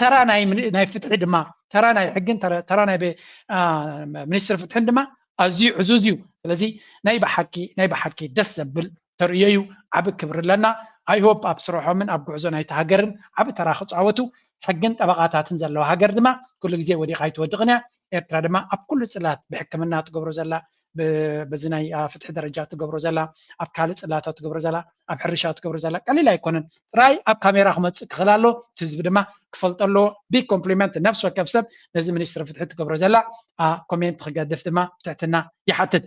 ተራ ናይ ፍትሒ ድማ ተራ ናይ ሕግን ተራ ናይ ሚኒስትር ፍትሕን ድማ ኣዝዩ ዕዙዝ እዩ ስለዚ ናይ ብሓቂ ናይ ብሓቂ ደስ ዘብል ተርእዮ እዩ ዓብ ክብሪ ኣለና ኣይሆፕ ኣብ ስርሖምን ኣብ ጉዕዞ ናይቲ ሃገርን ዓብ ተራ ክፃወቱ ሕግን ጠበቃታትን ዘለዋ ሃገር ድማ ኩሉ ግዜ ወዲቃ ኣይትወድቅን እያ ኤርትራ ድማ ኣብ ኩሉ ጽላት ብሕክምና ትገብሮ ዘላ በዚ ናይ ፍትሒ ደረጃ ትገብሮ ዘላ ኣብ ካልእ ጽላታት ትገብሮ ዘላ ኣብ ሕርሻ ትገብሮ ዘላ ቀሊል ኣይኮነን ጥራይ ኣብ ካሜራ ክመጽእ ክኽእል ኣሎ እቲ ህዝቢ ድማ ክፈልጦ ኣለዎ ቢግ ኮምፕሊመንት ነፍሲ ወከፍ ሰብ ነዚ ሚኒስትሪ ፍትሒ ትገብሮ ዘላ ኮሜንት ክገድፍ ድማ ትሕትና ይሓትት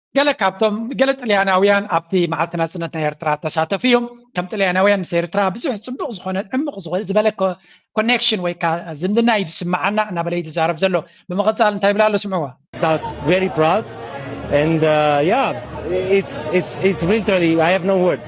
ገለ ካብቶም ገለ ጥልያናውያን ኣብቲ መዓልቲ ናጽነት ናይ ኤርትራ ተሳተፉ እዮም ከም ጥልያናውያን ምስ ኤርትራ ብዙሕ ጽቡቕ ዝኾነ ዕሙቕ ዝበለ ኮኔክሽን ወይ ከዓ ዝምድና እዩ ዝስምዓና እናበለ እዩ ዝዛረብ ዘሎ ብምቕጻል እንታይ ይብላ ኣሎ ስምዕዎ That's very proud and uh, yeah it's it's it's literally I have no words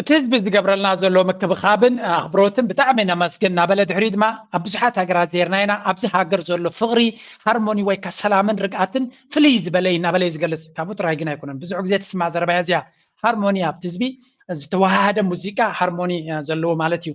እቲ ህዝቢ ዝገብረልና ዘሎ ምክብኻብን ኣኽብሮትን ብጣዕሚ ነመስግን እናበለ ድሕሪኡ ድማ ኣብ ብዙሓት ሃገራት ዜርና ኢና ኣብዚ ሃገር ዘሎ ፍቕሪ ሃርሞኒ ወይ ከ ሰላምን ርግኣትን ፍልይ ዝበለ እዩ እናበለ እዩ ዝገልፅ ካብኡ ጥራይ ግን ኣይኮነን ብዙሕ ግዜ ትስማዕ ዘረባ እያ እዚኣ ሃርሞኒ ኣብቲ ህዝቢ ዝተዋሃሃደ ሙዚቃ ሃርሞኒ ዘለዎ ማለት እዩ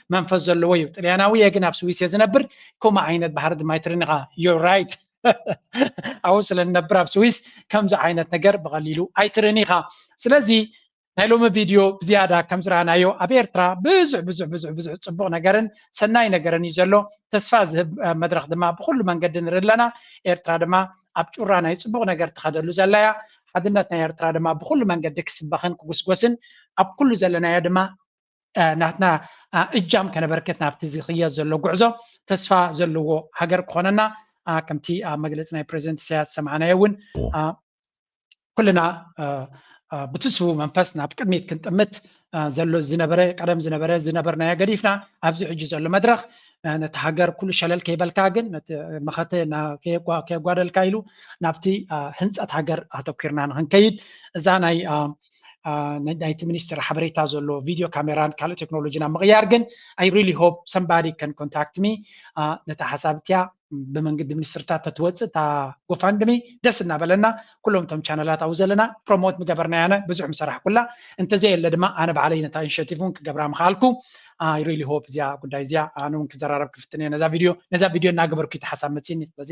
መንፈስ ዘለዎ እዩ ጥልያናዊ እየ ግን ኣብ ስዊስ እየ ዝነብር ከምኡ ዓይነት ባህሪ ድማ ይትርን ኢኻ ዩር ራይት ኣብኡ ስለ ንነብር ኣብ ስዊስ ከምዚ ዓይነት ነገር ብቐሊሉ ኣይትርን ኢኻ ስለዚ ናይ ሎሚ ቪድዮ ብዝያዳ ከም ዝረኣናዮ ኣብ ኤርትራ ብዙሕ ብዙሕ ብዙሕ ብዙሕ ፅቡቕ ነገርን ሰናይ ነገርን እዩ ዘሎ ተስፋ ዝህብ መድረኽ ድማ ብኩሉ መንገዲ ንርኢ ኣለና ኤርትራ ድማ ኣብ ጩራ ናይ ፅቡቕ ነገር ትኸደሉ ዘላ እያ ሓድነት ናይ ኤርትራ ድማ ብኩሉ መንገዲ ክስበኽን ክጉስጎስን ኣብ ኩሉ ዘለናዮ ድማ ናትና እጃም ከነበርክት ናብቲ ዝኽየድ ዘሎ ጉዕዞ ተስፋ ዘለዎ ሃገር ክኾነና ከምቲ ኣብ መግለፂ ናይ ፕሬዚደንት ኢሳያስ ዝሰማዕናዮ እውን ኩልና ብትስቡ መንፈስ ናብ ቅድሚት ክንጥምት ዘሎ ዝነበረ ቀደም ዝነበረ ዝነበርናዮ ገዲፍና ኣብዚ ሕጂ ዘሎ መድረኽ ነቲ ሃገር ኩሉ ሸለል ከይበልካ ግን ነቲ መኸተ ከየጓደልካ ኢሉ ናብቲ ህንፀት ሃገር ኣተኪርና ንክንከይድ እዛ ናይ ናይቲ ሚኒስትር ሓበሬታ ዘሎ ቪድዮ ካሜራን ካልእ ቴክኖሎጂን ኣብ ምቕያር ግን ኣይ ሪሊ ሆፕ ሰምባዲ ከን ኮንታክት ሚ ነታ ሓሳብ እቲያ ብመንገዲ ሚኒስትርታት ተትወፅእ እታ ጎፋንድሚ ደስ እናበለና ኩሎም እቶም ቻነላት ኣብኡ ዘለና ፕሮሞት ምገበርና ያነ ብዙሕ ምሰራሕኩላ እንተዘየለ ድማ ኣነ ባዕለይ ነታ ኢኒሽቲቭ እውን ክገብራ ምኽኣልኩ ኣይ ሪሊ ሆፕ እዚኣ ጉዳይ እዚኣ ኣነ እውን ክዘራረብ ክፍትን እየ ነዛ ቪድዮ ነዛ ቪድዮ እናገበርኩ እቲ ሓሳብ መፅኒ ስለዚ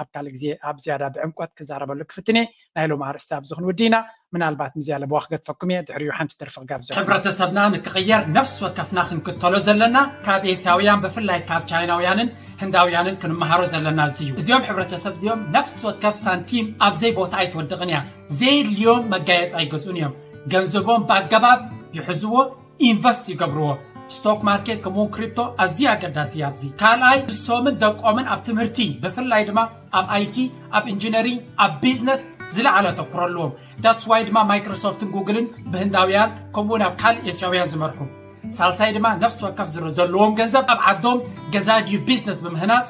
ኣብ ካልእ ግዜ ኣብ ዝያዳ ብዕምቆት ክዛረበሉ ክፍትን እየ ናይ ሎም ኣርእስቲ ኣብዚ ክንውዲ ኢና ምናልባት ምዚኣ ለበዋ ክገድፈኩም እየ ድሕሪኡ ሓንቲ ደርፊ ክጋብዘኩም ሕብረተሰብና ንክቕየር ነፍሲ ወከፍና ክንክተሎ ዘለና ካብ ኤስያውያን ብፍላይ ካብ ቻይናውያንን ህንዳውያንን ክንመሃሮ ዘለና እዚ እዩ እዚኦም ሕብረተሰብ እዚኦም ነፍሲ ወከፍ ሳንቲም ኣብ ዘይ ቦታ ኣይትወድቕን እያ ዘየድልዮም መጋየፂ ኣይገዝኡን እዮም ገንዘቦም ብኣገባብ ይሕዝዎ ኢንቨስት ይገብርዎ ስቶክ ማርኬት ከምኡውን ክሪፕቶ ኣዝዩ ኣገዳሲ እዩ ኣብዚ ካልኣይ ንሶምን ደቆምን ኣብ ትምህርቲ ብፍላይ ድማ ኣብ ኣይቲ ኣብ ኢንጂነሪንግ ኣብ ቢዝነስ ዝለዓለ ኣተኩሮ ኣለዎም ዳትስ ዋይ ድማ ማይክሮሶፍትን ጉግልን ብህንዳውያን ከምኡውን ኣብ ካልእ ኤስያውያን ዝመርሑ ሳልሳይ ድማ ነፍሲ ወከፍ ዘለዎም ገንዘብ ኣብ ዓዶም ገዛ ድዩ ቢዝነስ ብምህናፅ